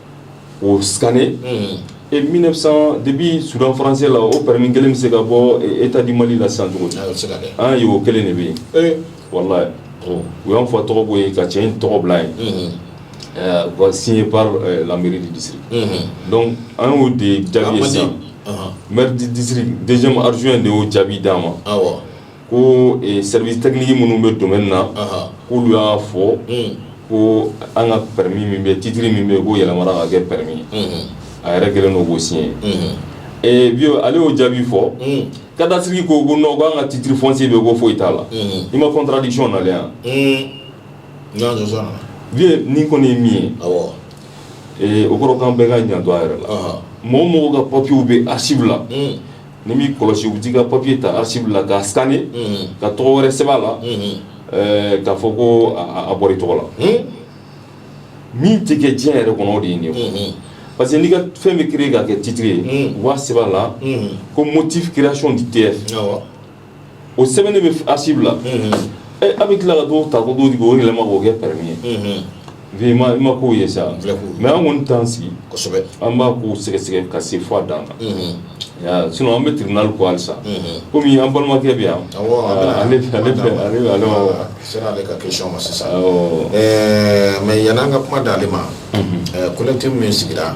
O scanner unhun e 1900 depuis Soudan français la o permis 1 bɛ se ka bɔ e Etat du Mali la sisan cogo di ayi o tɛ se ka kɛ an ye o 1 de bɛ yen ee walahi bon u y'anw fa tɔgɔ bɔ yen ka cɛ in tɔgɔ bila yen unhun ɛɛ u ka signé par ɛɛ la mairie du district unhun donc an y'o de jaabi ye sisan a mandi ɔnhɔn maire du district 2ème adjoint de y'o jaabi d'an ma awɔ ko service technique minnu bɛ domaine na k'olu y'a fɔ ko an ka permis min bɛ titre min bɛ ko yɛlɛmana ka kɛ permis ye a yɛrɛ kɛlen don k'o signé bi ale y'o jaabi fɔ cadastre ko ko non ko an ka titre foncier bɛ ko foyi t'a la i ma contradiction na yan bi nin kɔni ye min ye o kɔrɔ k'an bɛɛ ka janto an yɛrɛ la mɔgɔ mɔgɔ ka papier bɛ archive la n'i m'i kɔlɔsi u bɛ t'i ka papier ta archive la k'a scanner unhun, ka tɔgɔ wɛrɛ sɛbɛn a la, unhun, ɛɛ k'a fɔ ko a bɔra i tɔgɔ la, hunn, min tɛ kɛ diɲɛ yɛrɛ kɔnɔ o de ye nin ye, unhun, parce que n'i ka fɛn bɛ créer ka kɛ titre ye, unhun, u b'a sɛbɛn a la ko motif création du TF awɔ. o sɛbɛnnen bɛ archive la a bɛ tila ka t'o ta ko don o yɛlɛma k'o kɛ permis ye i ma ko ye sa mais an kɔni t'an sigi an b'a ko sɛgɛsɛgɛ ka se fo a dan na sinon an bɛ tribunal ko halisa komi an balimakɛ bɛ yan
ale sera ale ka question ma sisan mais yann'an ka kuma d'ale ma collectif min sigira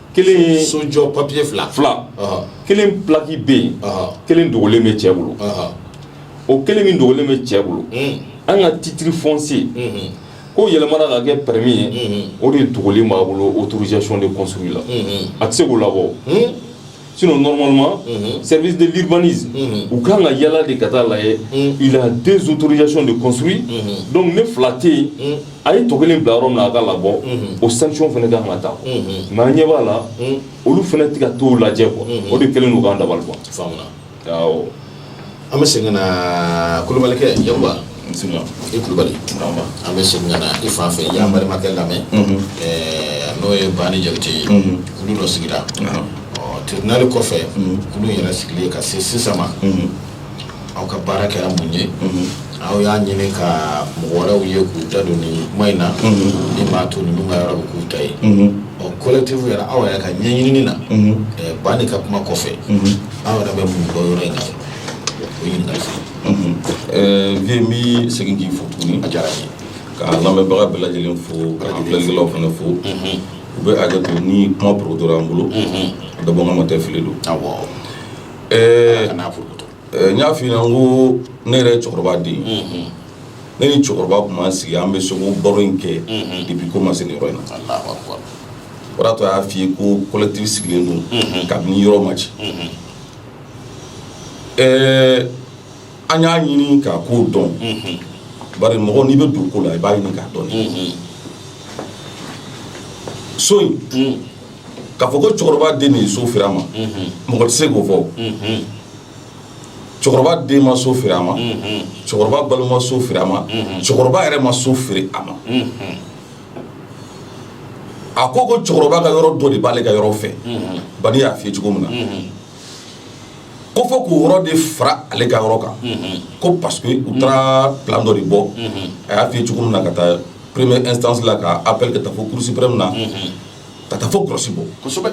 kelen so jɔ
papier fila fila
kelen plaki bɛ yen kelen dogolen bɛ cɛ bolo o kelen min dogolen bɛ cɛ bolo an ka titre foncier ko yɛlɛmana ka kɛ permis ye o de dogolen b'a bolo autorisation de construire la a tɛ se k'o labɔ sinon normalement service de l'urbanisme u kan ka yala de ka taa lajɛ il a deux autorisations de construire donc ni fila tɛ yen A ye tɔ kelen bila yɔrɔ min na a k'a labɔ o sanction fana ka kan ka ta mais an ɲɛ b'a la olu fana tɛ ka t'o lajɛ quoi o de kɛlen k'an dabali ban an
bɛ segin ka na Kulubalikɛ ja i Kulubali an bɛ segin ka na i fan fɛ i y'an balimakɛ lamɛn n'o ye Bani Jakite ye olu dɔ sigira ɔ tribunal kɔfɛ olu yɛrɛ sigilen ka se sisan ma aw ka baara kɛra mun ye aw y'a ɲini ka mɔgɔ wɛrɛw ye k'u da don nin kuma in na min b'a to ninnu ka yɔrɔ bɛ k'u ta ye ɔ collectif yɛrɛ aw yɛrɛ ka ɲɛɲinini na ɛɛ Bani ka kuma kɔfɛ aw yɛrɛ bɛ mun dɔn yɔrɔ in na o ɲininkali fɛ vie n
bɛ segin k'i fo tuguni a diyara n ye
ka
lamɛnbaga bɛɛ lajɛlen fo ka an filɛlikɛlaw fana fo u bɛ hakɛ to ni kuma porotora an bolo dabɔkama tɛ fili don awɔ Ɛɛ n y'a f'i ɲɛna ko ne yɛrɛ ye cɛkɔrɔba den ne ni cɛkɔrɔba tun b'an sigi an bɛ so ko baro in kɛ depuis ko ma se nin yɔrɔ in na o de y'a to a y'a f'i ye ko collectif sigilen don kabini yɔrɔ ma ci ɛɛ an y'a ɲini k'a ko dɔn bari mɔgɔ n'i bɛ don ko la i b'a ɲini k'a dɔn so in k'a fɔ ko cɛkɔrɔba den de ye so feere a ma mɔgɔ tɛ se k'o fɔ cɛkɔrɔba den ma so feere a ma cɛkɔrɔba balima so feere a ma cɛkɔrɔba yɛrɛ ma so feere a ma a ko ko cɛkɔrɔba ka yɔrɔ dɔ de b'ale ka yɔrɔ fɛ Bani y'a f'i ye cogo min na ko fo k'o yɔrɔ de fara ale ka yɔrɔ kan ko parce que u taara plan dɔ de bɔ a y'a f'i ye cogo min na ka taa première instance la ka appel ka taa fo cour suprême na ka taa fo grosse bɔ
kosɛbɛ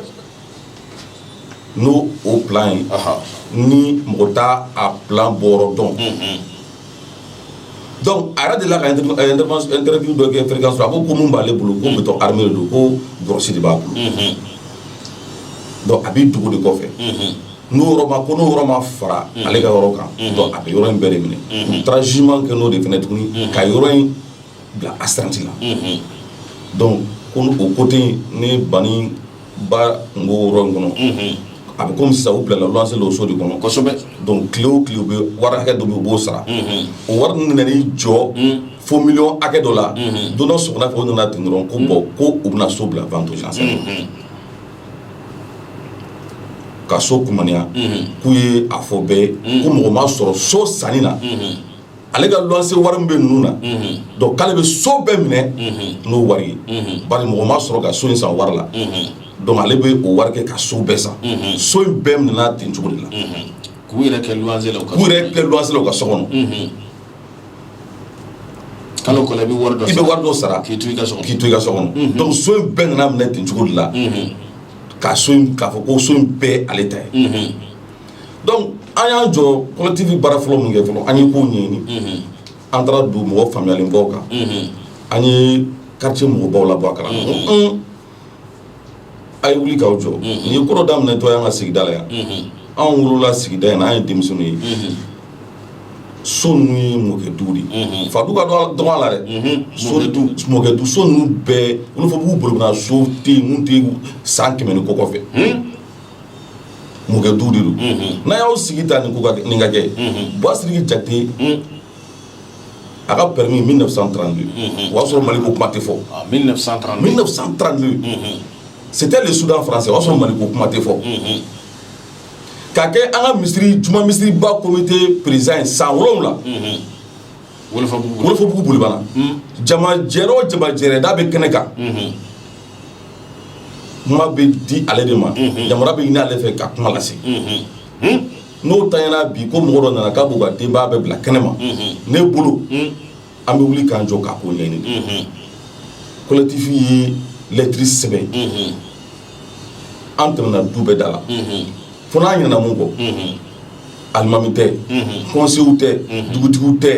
n'o o plan ye ni mɔgɔ t'a plan bɔyɔrɔ dɔn dɔnku a yɛrɛ delila ka interview dɔ kɛ fréquence a ko ko minnu b'ale bolo ko béton armé de don ko grosse de b'a bolo dɔnku a b'i dogo de kɔfɛ n'o yɔrɔba ko n'o yɔrɔ ma fara ale ka yɔrɔ kan dɔnku a bɛ yɔrɔ in bɛɛ de minɛ u taara jugement kɛ n'o de fana tuguni ka yɔrɔ in bila astreinte la dɔnku ko o côté ne Bani ba n ko yɔrɔ in kɔnɔ a bɛ kɔmi sisan u bilala luwanse o so de kɔnɔ kosɛbɛ dɔnku tile o tile u bɛ wari hakɛ dɔ bɛ yen u b'o sara o wari ninnu nana jɔ fo miliyɔn hakɛ dɔ la don dɔ sɔgɔmada fɛ u nana ten dɔrɔn ko bon ko u bɛna so bila vente aux enchères ka so kunya k'u ye a fɔ bɛɛ ko mɔgɔ ma sɔrɔ so sanni na ale ka luwanse wari min bɛ ninnu na dɔnku k'ale bɛ so bɛɛ minɛ n'o wari ye bari mɔgɔ ma sɔrɔ ka so in san wari la dɔnku ale bɛ o wari kɛ ka so bɛɛ san so in bɛɛ minɛna ten cogo de la
k'u yɛrɛ kɛ luwanse la u ka
so
kɔnɔ kalo i bɛ wari i bɛ wari dɔ
sara k'i to i ka
so kɔnɔ dɔnku
so in bɛɛ nana minɛ ten cogo de la ka so in k'a fɔ ko so in bɛɛ ale ta ye Dɔnku an y'an jɔ collectif baara fɔlɔ min kɛ fɔlɔ an ye ko ɲɛɲini an taara don mɔgɔ faamuyalenbaw kan an ye quartier mɔgɔbaw labɔ a kalama a ye wuli k'aw jɔ nin ye ko dɔ daminɛtɔ ye an ka sigida la yan anw wolola sigida in na an ye denmisɛnninw ye so ninnu ye mɔkɛ du de fadu ka dɔgɔ a la dɛ so mɔkɛ du so ninnu bɛɛ Wolofɔbugu Bolibana so tɛ yen min tɛ san kɛmɛ ni kɔ kɔfɛ mɔkɛ du de don n'a y'aw sigi ta nin ka kɛ Buwa Sidiki Jakite a ka permis 1932 o y'a sɔrɔ Mali ko kuma tɛ fɔ 1932 c'était le Soudan français o y'a sɔrɔ Mali ko kuma tɛ fɔ ka kɛ an ka misiri juma misiriba comité président ye san wolonwula Wolofɔbugu Bolibana jama jɛrɛ o jama jɛrɛ da bɛ kɛnɛ kan kuma bɛ di ale de ma yamaruya bɛ ɲini ale fɛ ka kuma lase n'o tayana bi ko mɔgɔ dɔ nana k'a b'o ka denbaya bɛɛ bila kɛnɛ ma ne bolo an bɛ wuli k'an jɔ k'a ko ɲɛɲini collectif ye lɛtiri sɛbɛn an tɛmɛna du bɛɛ da la fo n'an ɲinana min kɔ alimami tɛ conseillerw tɛ dugutigiw tɛ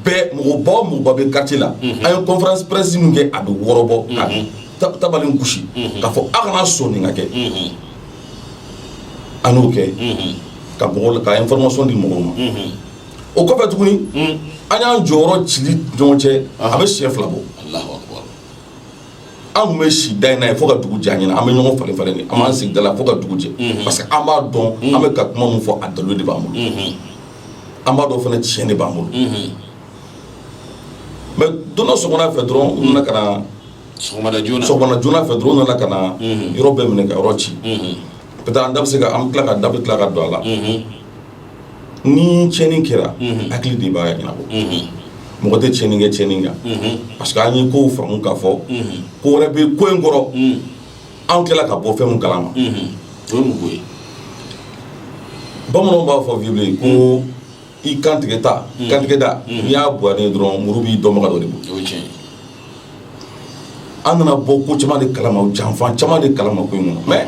bɛɛ mɔgɔba o mɔgɔba bɛ quartier la an ye conférence presse min kɛ a bɛ wɔɔrɔ bɔ ka tabali gosi k'a fɔ aw kana sɔn nin ka kɛ an y'o kɛ ka information di mɔgɔw ma o kɔfɛ tuguni an y'an jɔ yɔrɔ cili ɲɔgɔn cɛ a bɛ siɲɛ fila bɔ an tun bɛ si da in na yen fo ka dugu jɛ an ɲɛna an bɛ ɲɔgɔn falen falen de an b'an sigi da la fo ka dugu jɛ mhm. parce que an b'a dɔn mhm. an bɛ ka kuma min fɔ a dalilu de b'an bolo mhm. an b'a dɔn fana tiɲɛ de b'an bolo mais don dɔ sɔgɔmada fɛ dɔrɔn u nana ka na sɔgɔmada joona sɔgɔmada joona fɛ dɔrɔn u nana ka na yɔrɔ bɛɛ minɛ ka yɔrɔ ci peut-être an da bɛ se ka an bɛ tila ka da bɛ tila ka don a la ni tiɲɛni kɛra hakili de b'a ɲɛnabɔ mɔgɔ tɛ tiɲɛni kɛ tiɲɛni kan parce que an ye ko faamu k'a fɔ ko wɛrɛ bɛ ko in kɔrɔ an tilala ka bɔ fɛn min kalama o ye mun ko ye bamananw b'a fɔ proverbe ko i kantigɛ da kantigɛ da n'i y'a bonya dɔrɔn muru b'i dɔnbaga dɔ de bolo an nana bɔ ko caman de kalama janfa caman de kalama ko in kɔnɔ mais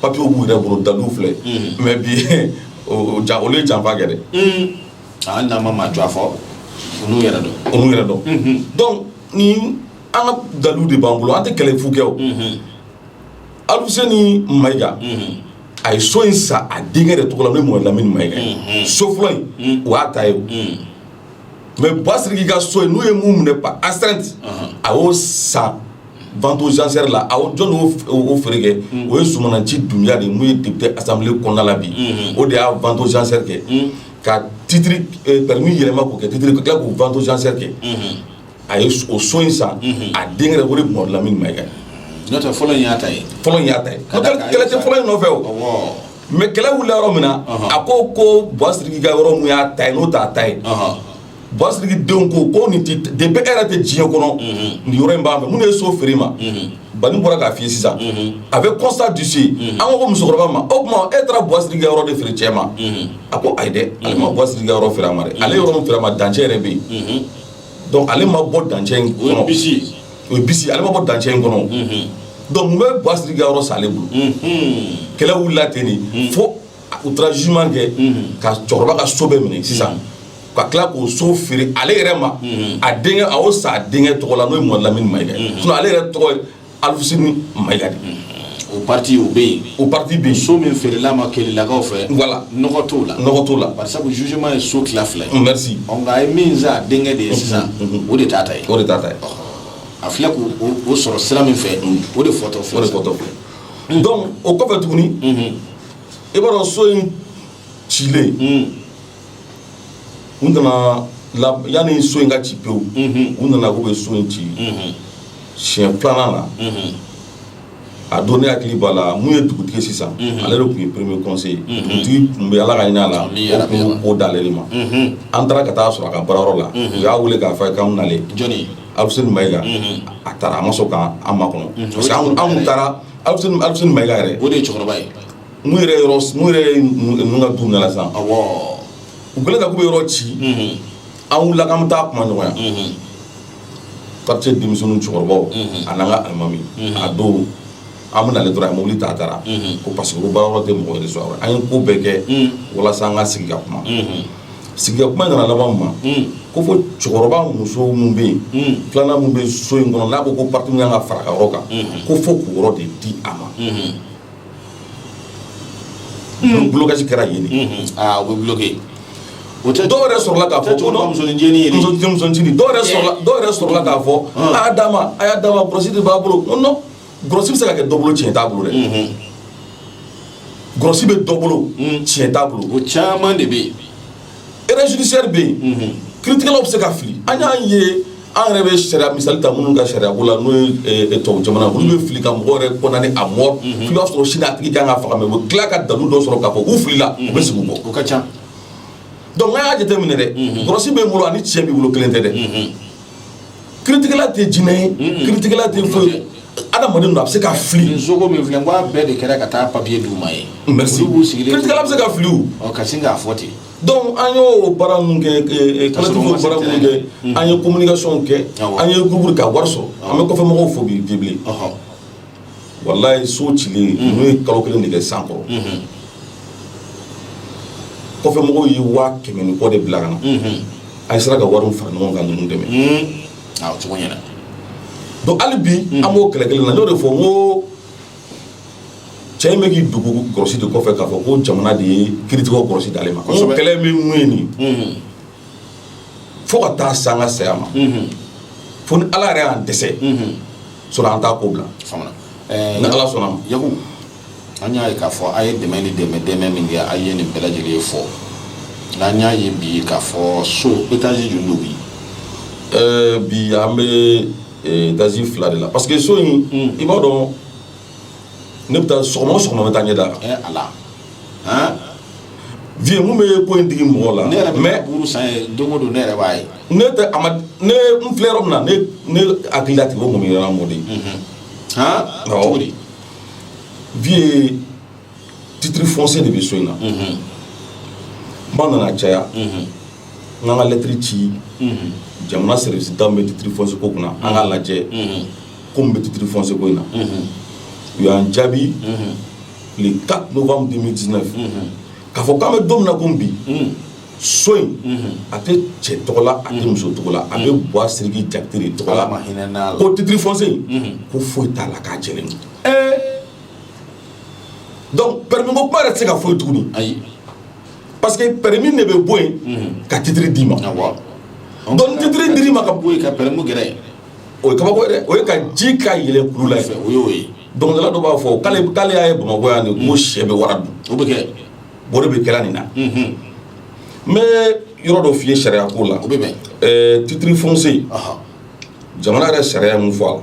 papiyew b'u yɛrɛ bolo dalilu filɛ mais bi o ja olu ye janfa kɛ dɛ a
n'an ma maa jɔ fɔ olu yɛrɛ dɔn olu yɛrɛ dɔn donc
ni an ka dalilu de b'an bolo an tɛ kɛlɛ fu kɛ o Aluseni Mayiga a ye so in san a denkɛ de tɔgɔ la n'o ye Mɔhamɛdi Lamini Mayiga ye so fɔlɔ in o y'a ta ye o mais Buwa Sidiki ka so in n'u ye min minɛ par astreinte a y'o san vente aux enchères la aw jɔni y'o feere kɛ o ye Sumananci Dunbiya de ye mun ye député assemblée kɔnɔna la bi o de y'a vente aux enchères kɛ ka titre permis yɛlɛma k'o kɛ titre ka tila k'o vente aux enchères kɛ a ye o so in san a denkɛ yɛrɛ o de Mamadu Lamini Mayiga ye n'o tɛ fɔlɔ in
y'a ta ye fɔlɔ in y'a ta
ye kɛlɛ tɛ fɔlɔ in nɔfɛ o mais kɛlɛ wulila yɔrɔ min na a ko ko Buwa Siriki ka yɔrɔ mun y'a ta ye n'o t'a ta ye. Buwa Siriki denw ko ko nin depuis e yɛrɛ tɛ diɲɛ kɔnɔ nin yɔrɔ in b'an fɛ mun de ye so feere i ma Bani bɔra k'a f'i ye sisan a bɛ constat d'huissier an ko ko musokɔrɔba ma o tuma e taara Buwa Siriki ka yɔrɔ de feere cɛ ma a ko ayi dɛ ale ma Buwa Siriki ka yɔrɔ feere a ma ale yɔrɔ min feere a ma dancɛ yɛrɛ bɛ yen donc ale ma bɔ dan in o ale ma bɔ dancɛ in kɔnɔ donc mun bɛ Buwa Siriki ka yɔrɔ san ale bolo kɛlɛ wulila ten de fo u taara jugement kɛ ka cɛkɔrɔba ka so bɛɛ minɛ sisan ka tila k'o so feere ale yɛrɛ ma a denkɛ a y'o san a denkɛ tɔgɔ la n'o ye Mamadu Lamini Mayiga ye sinon ale yɛrɛ tɔgɔ ye Alfuseni Mayiga de o partie o
bɛ yen o partie bɛ yen so min
feerela ma
kɛlɛlakaw fɛ voilà nɔgɔ t'o la
nɔgɔ
t'o la parce que jugement ye so tila fila ye nka a ye
min san
a denkɛ de ye sisan o de t'a ta ye o de t'a ta ye a filɛ k'o sɔrɔ sira min fɛ o de fɔtɔ o de fɔtɔ filɛ
donc o kɔfɛ tuguni i b'a dɔn so in cilen u nana yanni so in ka ci pewu u nana k'u bɛ so in ci siɲɛ filanan na a don ne hakili b'a la mun ye dugutigi sisan ale de tun ye premier conseiller dugutigi tun bɛ ala ka hin'a la o tun y'o ko d'ale de ma an taara ka taa sɔrɔ a ka baarayɔrɔ la u y'a wele k'a fɔ a ye k'an nalen jɔni Alfuseni Mayiga a taara a ma sɔn k'an makɔnɔ parce que an tun taara Alfuseni Mayiga yɛrɛ o de ye cɛkɔrɔba ye
Mun yɛrɛ yɔrɔ
s mun yɛrɛ ye ninnu e mun ka du minɛna sisan awɔɔ u kɛlen ka k'u be yɔrɔ ci unhun an wulila k'an be taa kumaɲɔgɔnya unhun quartier denmisɛnninw cɛkɔrɔbaw unhun a n'an ka alimami unhun a don an bena ale dɔrɔn a ye mobili ta a taara unhun ko parce que ko baarayɔrɔ te mɔgɔ wɛrɛ sɔrɔ a kɔnɔ an ye ko bɛɛ kɛ unh walasa an ka sigi ka kuma unhun sigi ka kuma in nana laban mun ma unh ko fo cɛkɔrɔba muso mun be yen unh filanan mun be so in kɔnɔ n'a ko ko partie min kan ka far'a ka yɔrɔ kan unhun ko fo k'o yɔrɔ de di a ma unhun Blocage kɛra yen de o bɛ
bloqué
dɔw yɛrɛ sɔrɔla k'a fɔ musoncinin dɔw sɔrɔla k'a fɔ a d'a ma a y'a d'a ma grosse de b'a bolo ko non grosse bɛ se ka kɛ dɔ bolo cɛn t'a bolo dɛ grosse bɛ dɔ bolo cɛn t'a bolo o caman de bɛ yen
erreur
judiciaire bɛ yen kiiritigɛlaw bɛ se ka fili an y'a ye an yɛrɛ bɛ sariya misali ta minnu ka sariya ko la n'o ye tubabu jamana olu bɛ fili ka mɔgɔ yɛrɛ condamné à mort i b'a sɔrɔ sini a tigi kan ka faga mais u bɛ tila ka dalu dɔ sɔrɔ k'a fɔ u filila u bɛ segin u kɔ o ka
ca donc
a y'a jateminɛ dɛ grosse b'i bolo ani cɛn b'i bolo kelen tɛ dɛ kiiritigɛla tɛ jinɛ ye kiiritigɛla tɛ foyi ye adamaden don a bɛ se ka fili sogo min filɛ n'a
bɛɛ de kɛra ka taa papiye d'u ma ye merci
kiiritigɛla bɛ se ka fili ka sin k'a fɔ
ten dɔnku an
y'o baara ninnu kɛ baara minnu kɛ an ye communication kɛ an ye groupe ka wari sɔrɔ an bɛ kɔfɛ mɔgɔw fo bi bilen walayi so cilen n'o ye kalo kelen de kɛ san kɔrɔ kɔfɛ mɔgɔw ye waa kɛmɛ ni kɔ de bila ka na an sera ka wari fara ɲɔgɔn ka ninnu dɛmɛ
cogo ɲɛna donc
hali bi an b'o kɛlɛ kelen na n y'o de fɔ n ko cɛ in bɛ k'i dogo grosse de kɔfɛ k'a fɔ ko jamana de ye kiritigɛw grosse d'ale ma kɛlɛ min mun ye nin fo ka taa se an ka saya ma fo ni ala yɛrɛ y'an dɛsɛ sinon an t'a ko bila eh, ni ala sɔnna ma Yaku
an y'a ye k'a fɔ a ye dɛmɛ ni dɛmɛ dɛmɛ min kɛ a ye nin bɛɛ lajɛlen fɔ nka an y'a ye bi k'a fɔ so etazi joli don bi eh, bi
an bɛ eh, etazi fila de la parce que so in hmm. i b'a dɔn ne bɛ taa sɔgɔma o sɔgɔma n bɛ taa ɲɛ d'a kan. Ɛɛ
ala
han vieux mun bɛ ko in digi mɔgɔ la. ne yɛrɛ bɛ mais buuru san
yen don o don ne yɛrɛ b'a ye. ne tɛ a ma
ne n filɛ yɔrɔ min na ne ne hakili la tigɛ o mɔmi yɔrɔ mɔ de ye.
han Awɔ. cogo di.
vieux titre foncier de bɛ so in na. ba nana caya. n k'an ka lɛtiri ci. jamana service da min bɛ titre foncier ko kunna an k'a lajɛ. ko mun bɛ titre foncier ko in na, unhun, u y'an jaabi, unhun, le 4 novembre 2019 unhun, k'a fɔ k'an bɛ don min na komi bi, unhun, so in, unhun, a tɛ cɛ tɔgɔ la, a tɛ muso tɔgɔ la, a bɛ Buwa Sidiki Jakite de tɔgɔ la, Ala ma hinɛn'a la, ko titre foncier in, unhun, ko foyi t'a la k'a jɛlen don, ee, donc permis ko kuma yɛrɛ tɛ se ka fɔ yen tuguni,
ayi, parce que
permis de bɛ bɔ yen, unhun, ka titre d'i ma, awɔ, donc ni titre dir'i ma ka bɔ yen ka permis gɛrɛ yen
o ye kabako
ye dɛ o ye ka ji ka yɛlɛ kulu la fɛ o y'o ye
dɔnkilidala dɔ b'a
fɔ k'ale k'ale y'a ye bamakɔ yan de ko sɛ bɛ wara dun o bɛ kɛ
o de bɛ kɛra
nin na n bɛ yɔrɔ dɔ f'i ye sariya ko la o bɛ bɛn
ɛɛ titiri
fonse jamana yɛrɛ sariya mun fɔ a la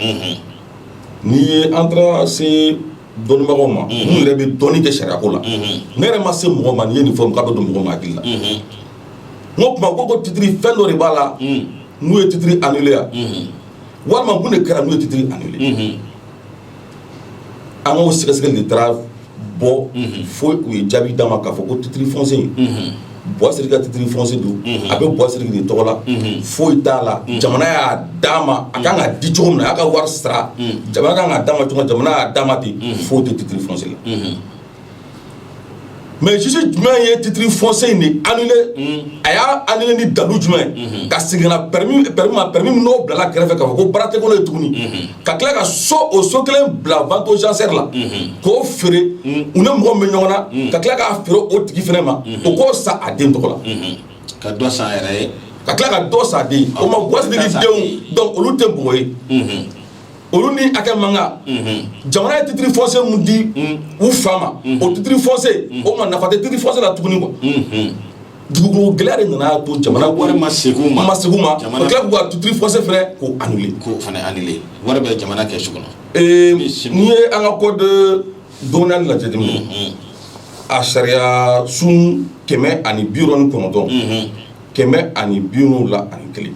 n'i ye an taara se dɔnnibagaw ma minnu yɛrɛ bɛ dɔnni kɛ sariya ko la ne yɛrɛ ma se mɔgɔ ma n'i ye nin fɔ k'a bɛ don mɔgɔ ma hakili la n o tuma ko ko titre fɛn dɔ de b'a la n'u ye titre annuler wa walima mun de kɛra n'u ye titre annuler an k'o sɛgɛsɛgɛli de taara bɔ fo u ye jaabi d'an ma k'a fɔ ko titre foncier in Buwa Sidiki ka titre foncier don a bɛ Buwa Sidiki de tɔgɔ la foyi t'a la jamana y'a d'a ma a kan ka di cogo min na a y'a ka wari sara jamana kan ka d'a ma cogo jamana y'a d'a ma ten foyi tɛ titre foncier la mais juge jumɛn ye titre foncier in de annulé a y'a annulé ni dalu jumɛn ye ka segin ka na permis permis ma permis min n'o bilala kɛrɛfɛ k'a fɔ ko baara tɛ kɛ n'o ye tuguni ka tila ka so o so kelen bila vente aux enchères la k'o feere u ni mɔgɔ bɛ ɲɔgɔn na ka tila k'a feere o tigi fana ma o k'o san a den tɔgɔ la ka dɔ san
a yɛrɛ ye ka tila ka dɔ
san a den o ma buwa sidiki denw donc olu tɛ mɔgɔ ye olu ni hakɛ man kan jamana ye titre foncier mun di u fa ma o titre foncier o ma nafa tɛ titre foncier la tuguni quoi dugukolo gɛlɛya de nana to jamana wari ma segin u ma ma
segin u ma jamana tila k'u
ka titre foncier fɛnɛ k'o annulé k'o fana annulé wari bɛ
jamana kɛsu kɔnɔ n'i
ye an ka code domanial lajɛ dimi a sariya sun kɛmɛ ani bi wɔɔrɔ ni kɔnɔntɔn kɛmɛ ani bi wolonwula ani kelen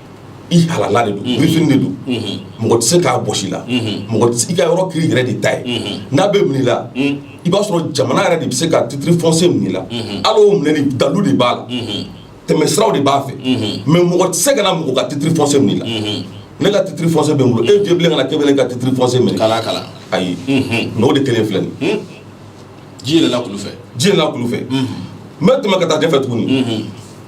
i halala de don birifini de don mɔgɔ tɛ se k'a bɔsi i la mɔgɔ tɛ se- i ka yɔrɔ k'i yɛrɛ de ta ye n'a bɛ minɛ i la i b'a sɔrɔ jamana yɛrɛ de bɛ se ka titre foncier minɛ i la hali o minɛli dalu de b'a la tɛmɛsiraw de b'a fɛ mais mɔgɔ tɛ se ka na mɔgɔ ka titre foncier minɛ i la ne ka titre foncier bɛ n bolo e vieux bilen kana k'e bɛ ne ka titre foncier minɛ kala kala ayi mais o de kelen filɛ nin ye. ji yɛlɛla
kulu fɛ ji yɛlɛla kulu fɛ n
bɛ tɛmɛ ka taa ɲɛfɛ tuguni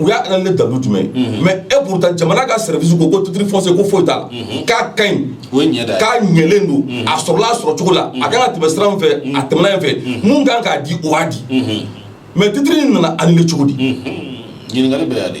u y'a annulé ni dalu jumɛn ye mais et pourtant jamana ka service ko ko titre foncier ko foyi t'a la k'a ka ɲi k'a ɲɛlen don a sɔrɔla sɔrɔ cogo la a kan ka tɛmɛ sira fɛ a tɛmɛna yen fɛ mun kan k'a di o y'a di mais titre in nana annulé cogo di ɲininkali bɛ
yan de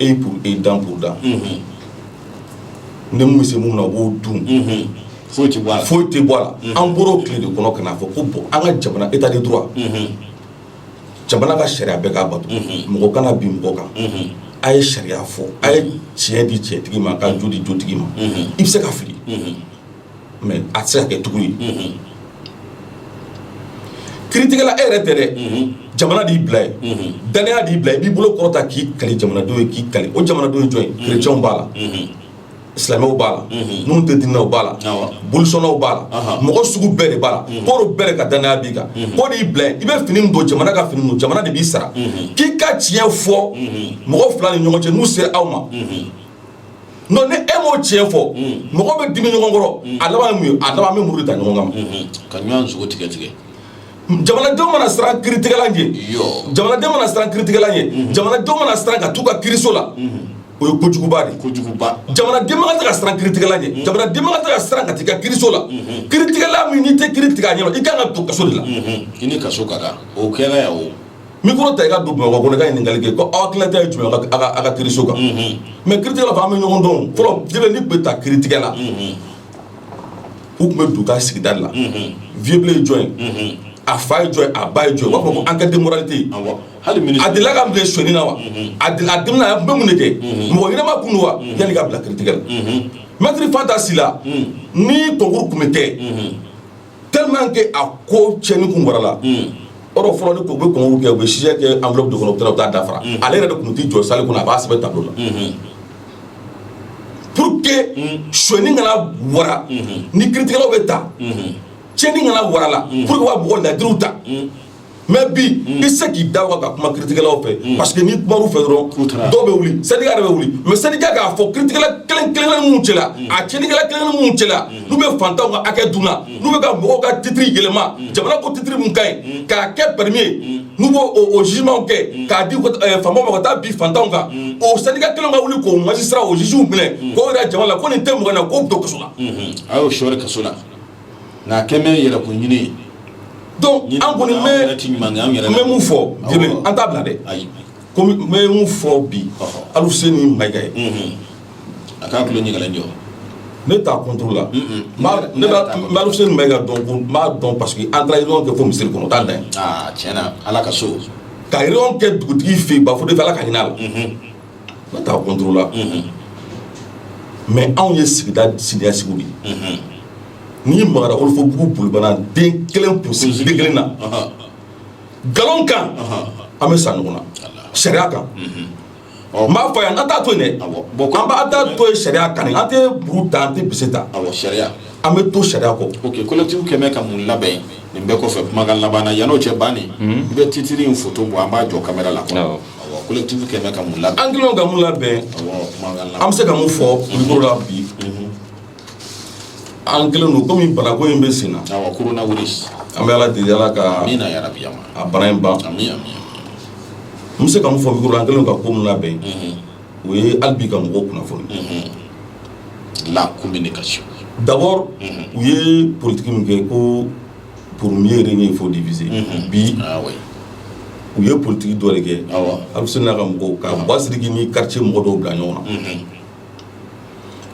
œil pour œil dent pour dent ni mun bɛ se mun na o b'o
dun foyi tɛ bɔ a la an
bɔra o tile de kɔnɔ ka n'a fɔ ko bon an ka jamana état de droit jamana ka sariya bɛɛ k'a bato mɔgɔ kana bin mɔgɔ kan a ye sariya fɔ a ye tiɲɛ di tiɲɛtigi ma ka jo di jotigi ma i bɛ se ka fili mais a tɛ se ka kɛ tugu ye kiritigɛla e yɛrɛ tɛ dɛ jamana de y'i bila ye dannaya de y'i bila i b'i bolo kɔrɔta k'i kali jamanadenw ye k'i kali o jamanadenw ye jɔn ye kerecɛnw b'a la silamɛw b'a la minnu tɛ diinɛ na b'a la bolisɔnnaw b'a la mɔgɔ sugu bɛɛ de b'a la k'o bɛɛ ka dannaya b'i kan k'o de y'i bila ye i bɛ fini don jamana ka fini don jamana de b'i sara k'i ka tiɲɛ fɔ mɔgɔ fila ni ɲɔgɔn cɛ n'u sera aw ma non ni e m'o tiɲɛ fɔ mɔgɔ bɛ dimi ɲɔgɔn kɔrɔ a laban ye mun ye a laban bɛ muru da ɲɔgɔn kan ka ɲɔgɔn
sogo tigɛ tigɛ jamanadenw
mana siran kiritigɛla ɲɛ jamanadenw mana siran kiritigɛla ɲɛ jamanadenw mana siran ka t'u ka kiriso la o ye kojuguba de kojuguba
jamanaden man tɛ
ka siran kiritigɛla ɲɛ jamanaden man tɛ ka siran ka t'i ka kiriso la kiritigɛla min n'i tɛ kiri tigɛ a ɲɛ i kan ka don kaso de la i ni kaso ka
kan o kɛra yan o micro ta i ka
don bamakɔ kɔnɔ ka ɲininkali kɛ ko aw hakilina ye jumɛn aw ka kiriso kan mais kite fɔ an bɛ ɲɔgɔn dɔn fɔlɔ n'i bɛ taa kitigɛ la u tun bɛ don i ka sigida la vieux blé ye jɔn ye a fa ye jɔn ye a ba ye jɔn ye u b'a fɔ ko enquête de moralité a delila ka minɛ sonyani na wa a a tun bɛ mun de kɛ mɔgɔ ɲɛnama kun don wa yanni i ka bila kitigɛ la maître fanta sila ni concours tun bɛ kɛ tellement que a ko cɛni kun warala yɔrɔ fɔlɔ ni u bɛ concours kɛ u bɛ sujet kɛ enveloppe de kɔnɔ u taa dafara ale yɛrɛ de tun t'i jɔ salle kɔnɔ a b'a sɛbɛn tableau la pour que sonyani kana wara ni kitigɛlaw bɛ ta cɛni kana wara la pour u ka mɔgɔ ladiriw ta mais bi mm. i se k'i da waga ka kuma kiritigɛlaw fɛ mm. parce que n'i kumar'u fɛ dɔrɔn dɔw bɛ wuli syndicat yɛrɛ bɛ wuli mais syndicat k'a fɔ kiritigɛla kelen kelen minnu cɛla mm. a cɛnikɛla kelen kelen minnu cɛla n'u bɛ fantanw ka hakɛ dun na n'u bɛ ka mɔgɔw ka titiri yɛlɛma jamana ko titiri min ka ɲi k'a kɛ pɛrɛmi ye n'u b'o o jugement kɛ k'a di eh, faamaw ma ka taa bin fantanw kan o syndicat kelen ka wuli k'o magistrat o juge minɛ k'o yira jama la ko nin tɛ mɔgɔ na k'o bɛ to kaso la mm-hmm. a y'o sɔɔri
kaso la nka a kɛlen bɛ yɛrɛkun ɲini ye,
donc an kɔni bɛ, an yɛrɛ tɛ ɲuman kɛ, an yɛrɛ, n bɛ mun fɔ, awɔ, an t'a bila dɛ, ayi, ko n bɛ mun fɔ bi, ɔhɔ, Alfuseni Mayiga ye, unhun, a
k'a tulo ɲɛgɛlɛn jɔ, ne
t'a contre la, unhun, n b'a ne b'a n bɛ Alfuseni Mayiga dɔn ko n b'a dɔn parce que an taara réunion kɛ fo misiri kɔnɔ o t'a dan ye, aa tiɲɛna Ala ka so, ka réunion kɛ dugutigi fɛ yen Bafode
fɛ Ala
ka hinɛ a la, unhun ne t'a contre la mais anw ye sigida siniɲɛsigi de ye n'i magara wolofobugu bolibana den kelen kelen na nkalon kan an bɛ sa ɲɔgɔn na sariya kan n b'a fɔ yan an t'a to yen bon an b'a taa to sariya kan an tɛ muru ta an tɛ bese ta sariya an
bɛ to sariya
kɔ collectif kɛlen
bɛ ka mun labɛn nin bɛɛ kɔfɛ kumakan laban yann'o cɛ ban i bɛ titiri in photo bɔ an b'a jɔ caméra la collectif
kɛlen bɛ ka mun labɛn an kɛlen ka mun labɛn an bɛ se ka mun fɔ micro la bi an kɛlen don komi banako in bɛ sen na coronavirus
an bɛ ala deli ala
ka amina yarabi yan
a bana
in ban an bɛ se ka mun fɔ micro la an kɛlen ka ko mun labɛn o ye hali bi ka mɔgɔw kunnafoni
la communication
d'abord u ye politiki min kɛ ko pour mieux régner il faut diviser bi u ye politiki dɔ de kɛ alfuseni n'a ka mɔgɔw ka ba siriki ni quartier mɔgɔ dɔw bila ɲɔgɔn na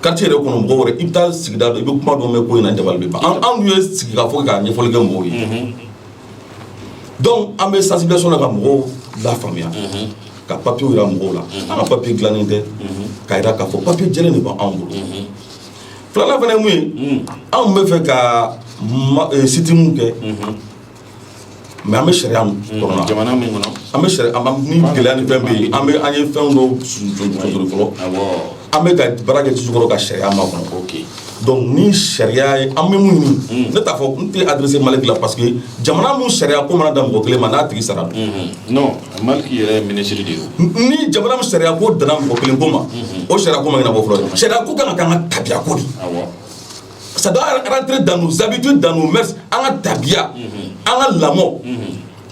quartier yɛrɛ kɔnɔ mɔgɔw i bɛ taa sigida i bɛ kuma dɔ mɛn ko in na anw ye sigi ka fɔ ka ɲɛfɔli kɛ mɔgɔw ye donc an bɛ sensibilisation na ka mɔgɔw lafaamuya ka papiye jira mɔgɔw la an ka papiye dilannen tɛ ka jira k'a fɔ papiye jɛlen de b' anw bolo filanan fana ye mun ye mm. anw bɛ fɛ ka eh, sit-in kɛ mm-hmm. mais an bɛ sariya mun mm-hmm. kɔnɔ jamana mun kɔnɔ an bɛ
sariya ni
gɛlɛya ni fɛn bɛ yen an bɛ an ye fɛn dɔw sonsori fɔlɔ an bɛ ka baara kɛ jukɔrɔ ka sariya makɔnɔ donc ni sariya ye an bɛ mun ɲini mm. ne t'a fɔ n tɛ adresser Maliki la parce que jamana mun sariya ko mana dan mɔgɔ kelen ma n'a tigi sara mm-hmm. non
Maliki yɛrɛ ye minisiri de ye ni jamana mun
sariya ko danna mɔgɔ kelen ko ma o sariya ko ma ɲɛnabɔ fɔlɔ sariya ko kan ka k'an ka tabiya ko de ça doit rentrer dans nos habitudes dans nos mœurs an ka tabiya an ka lamɔ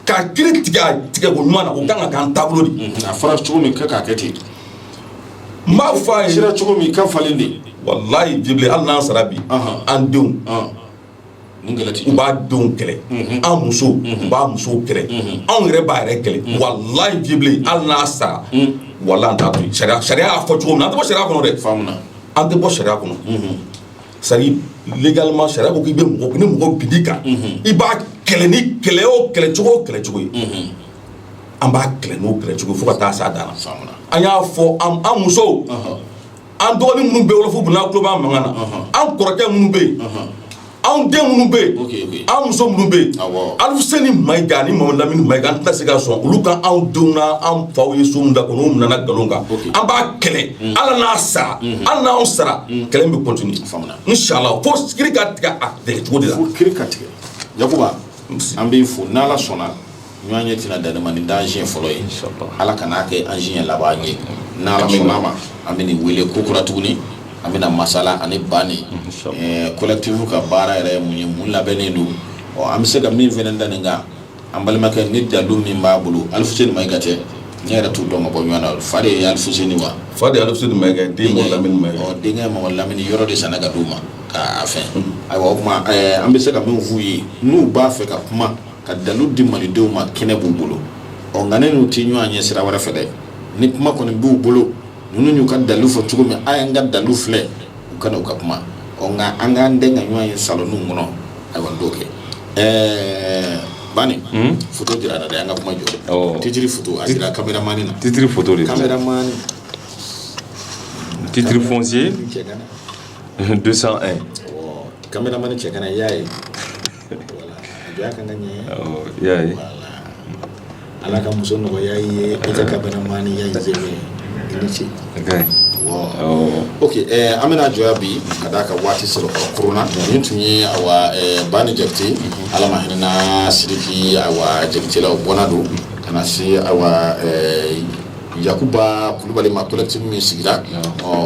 ka kiri tigɛ ko ɲuman na o kan ka k'an taabolo de a fɔra cogo min
kɛ k'a kɛ ten
n b'a fɔ a ye cogo min ka falen
de walayi hali
n'an sara bi an denw u b'a denw kɛlɛ an musow b'a musow kɛlɛ anw yɛrɛ b'a yɛrɛ kɛlɛ walayi Jibirili hali n'a sara walayi an t'a to yen sariya y'a fɔ cogo min an tɛ bɔ sariya kɔnɔ dɛ faamuya an tɛ bɔ sariya kɔnɔ c'est-à-dire légalement sariya ko k'i bɛ mɔgɔ ni mɔgɔ bin'i kan i b'a kɛlɛ ni kɛlɛ o kɛlɛcogo kɛlɛcogo ye an b'a kɛlɛ n'o kɛlɛcogo ye fo ka taa s'a dan na an y'a fɔ an musow an dɔgɔnin minnu bɛ Wolofobugu n'a tulo b'an mankan na an kɔrɔkɛ minnu bɛ yen anw den minnu bɛ yen an muso minnu bɛ yen Alifuseni Mayiga ni Mamadu Lamini Mayiga an tɛna se ka sɔn olu ka anw denw na an faw ye so min da k'o minɛ an na nkalon kan an b'a kɛlɛ hali n'a sara hali n'an sara kɛlɛ in bɛ continuer inshallah fo kiri ka tigɛ a tigɛcogo de la tigɛ
an b'i fo n' ala sɔnna ɲɔgɔn ye tɛna dan nin ma nin t'an siɲɛ fɔlɔ ye ala kan'a kɛ an siɲɛ laban ye n' ala sɔnna ma an bɛ wele ko kura tuguni an bɛna masala ani Bani collectif ka baara yɛrɛ ye mun ye mun labɛnnen don ɔ an bɛ se ka min fana da nin kan an balimakɛ ni dalu min b'a bolo Alifuseni Mayiga cɛ ne yɛrɛ t'u dɔn ka bɔ ɲɔgɔn na fa de ye Alifuseni wa fa de ye Alifuseni
Mayiga den Lamini denkɛ Mamadu Lamini yɔrɔ
de sanna ka d' u ma k'a fɛ ayiwa o tuma an bɛ se ka min f'u ye n'u b'a fɛ ka kuma ka dalu di malidenw ma kɛnɛ b'u bolo ɔ nka ne n'u tɛ ɲɔgɔn ye sira wɛrɛ fɛ dɛ ni kuma kɔni b'u bolo ninnu y'u ka dalu fɔ cogo min a y'an ka dalu filɛ u kana u ka kuma ɔ nka an k'an den ka ɲɔgɔn ye salonw kɔnɔ ayiwa n t'o kɛ ɛɛ Bani hmm? foto dira an na dɛ an ka kuma jɔ oh. titiri foto a dira kameramani na titiri foto de
kameramani titiri foncier 201
kameramani cɛ kana i y'a ye Ala ka muso nɔgɔya ye kameramani i ni ce an bɛna jɔ yan bi ka d'a kan waati sɔrɔ kona nin tun ye Bani Jakite ala ma hinɛ i na Siriki Jakitelaw bɔnna don ka na se Yakuba Kulubali ma collectif min sigira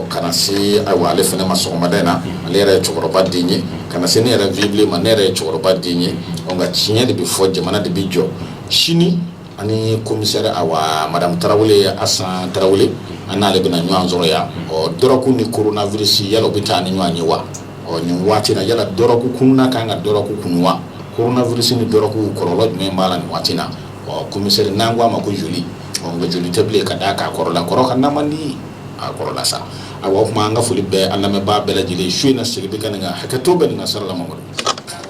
ka na se ayiwa ale fana ma sɔgɔmada in na ale yɛrɛ ye cɛkɔrɔba den ye ka na se ne yɛrɛ Vieux Blen ma ne yɛrɛ ye cɛkɔrɔba den ye nka tiɲɛ de bɛ fɔ jamana de bɛ jɔ sini ani commissaire awa Madame Tarawele Asan Tarawele an n'ale bɛna ɲɔgɔn sɔrɔ yan ɔ dɔrɔku ni coronavirus yala o bɛ taa ni ɲɔgɔn ye wa ɔ nin waati yala dɔrɔku kunna ka kan ka dɔrɔku kunu wa coronavirus ni dɔrɔku kɔlɔlɔ jumɛn b'a la nin waati na ɔ commissaire n'an ko a ma ko joli nka joli tɛ bilen ka d'a kan kɔrɔla kɔrɔ ka na man di a kɔrɔla sa awa o tuma an ka foli bɛɛ an lamɛnbaa bɛɛ lajɛlen su in na segin bɛ ka nin kan hakɛto bɛ nin ka sara la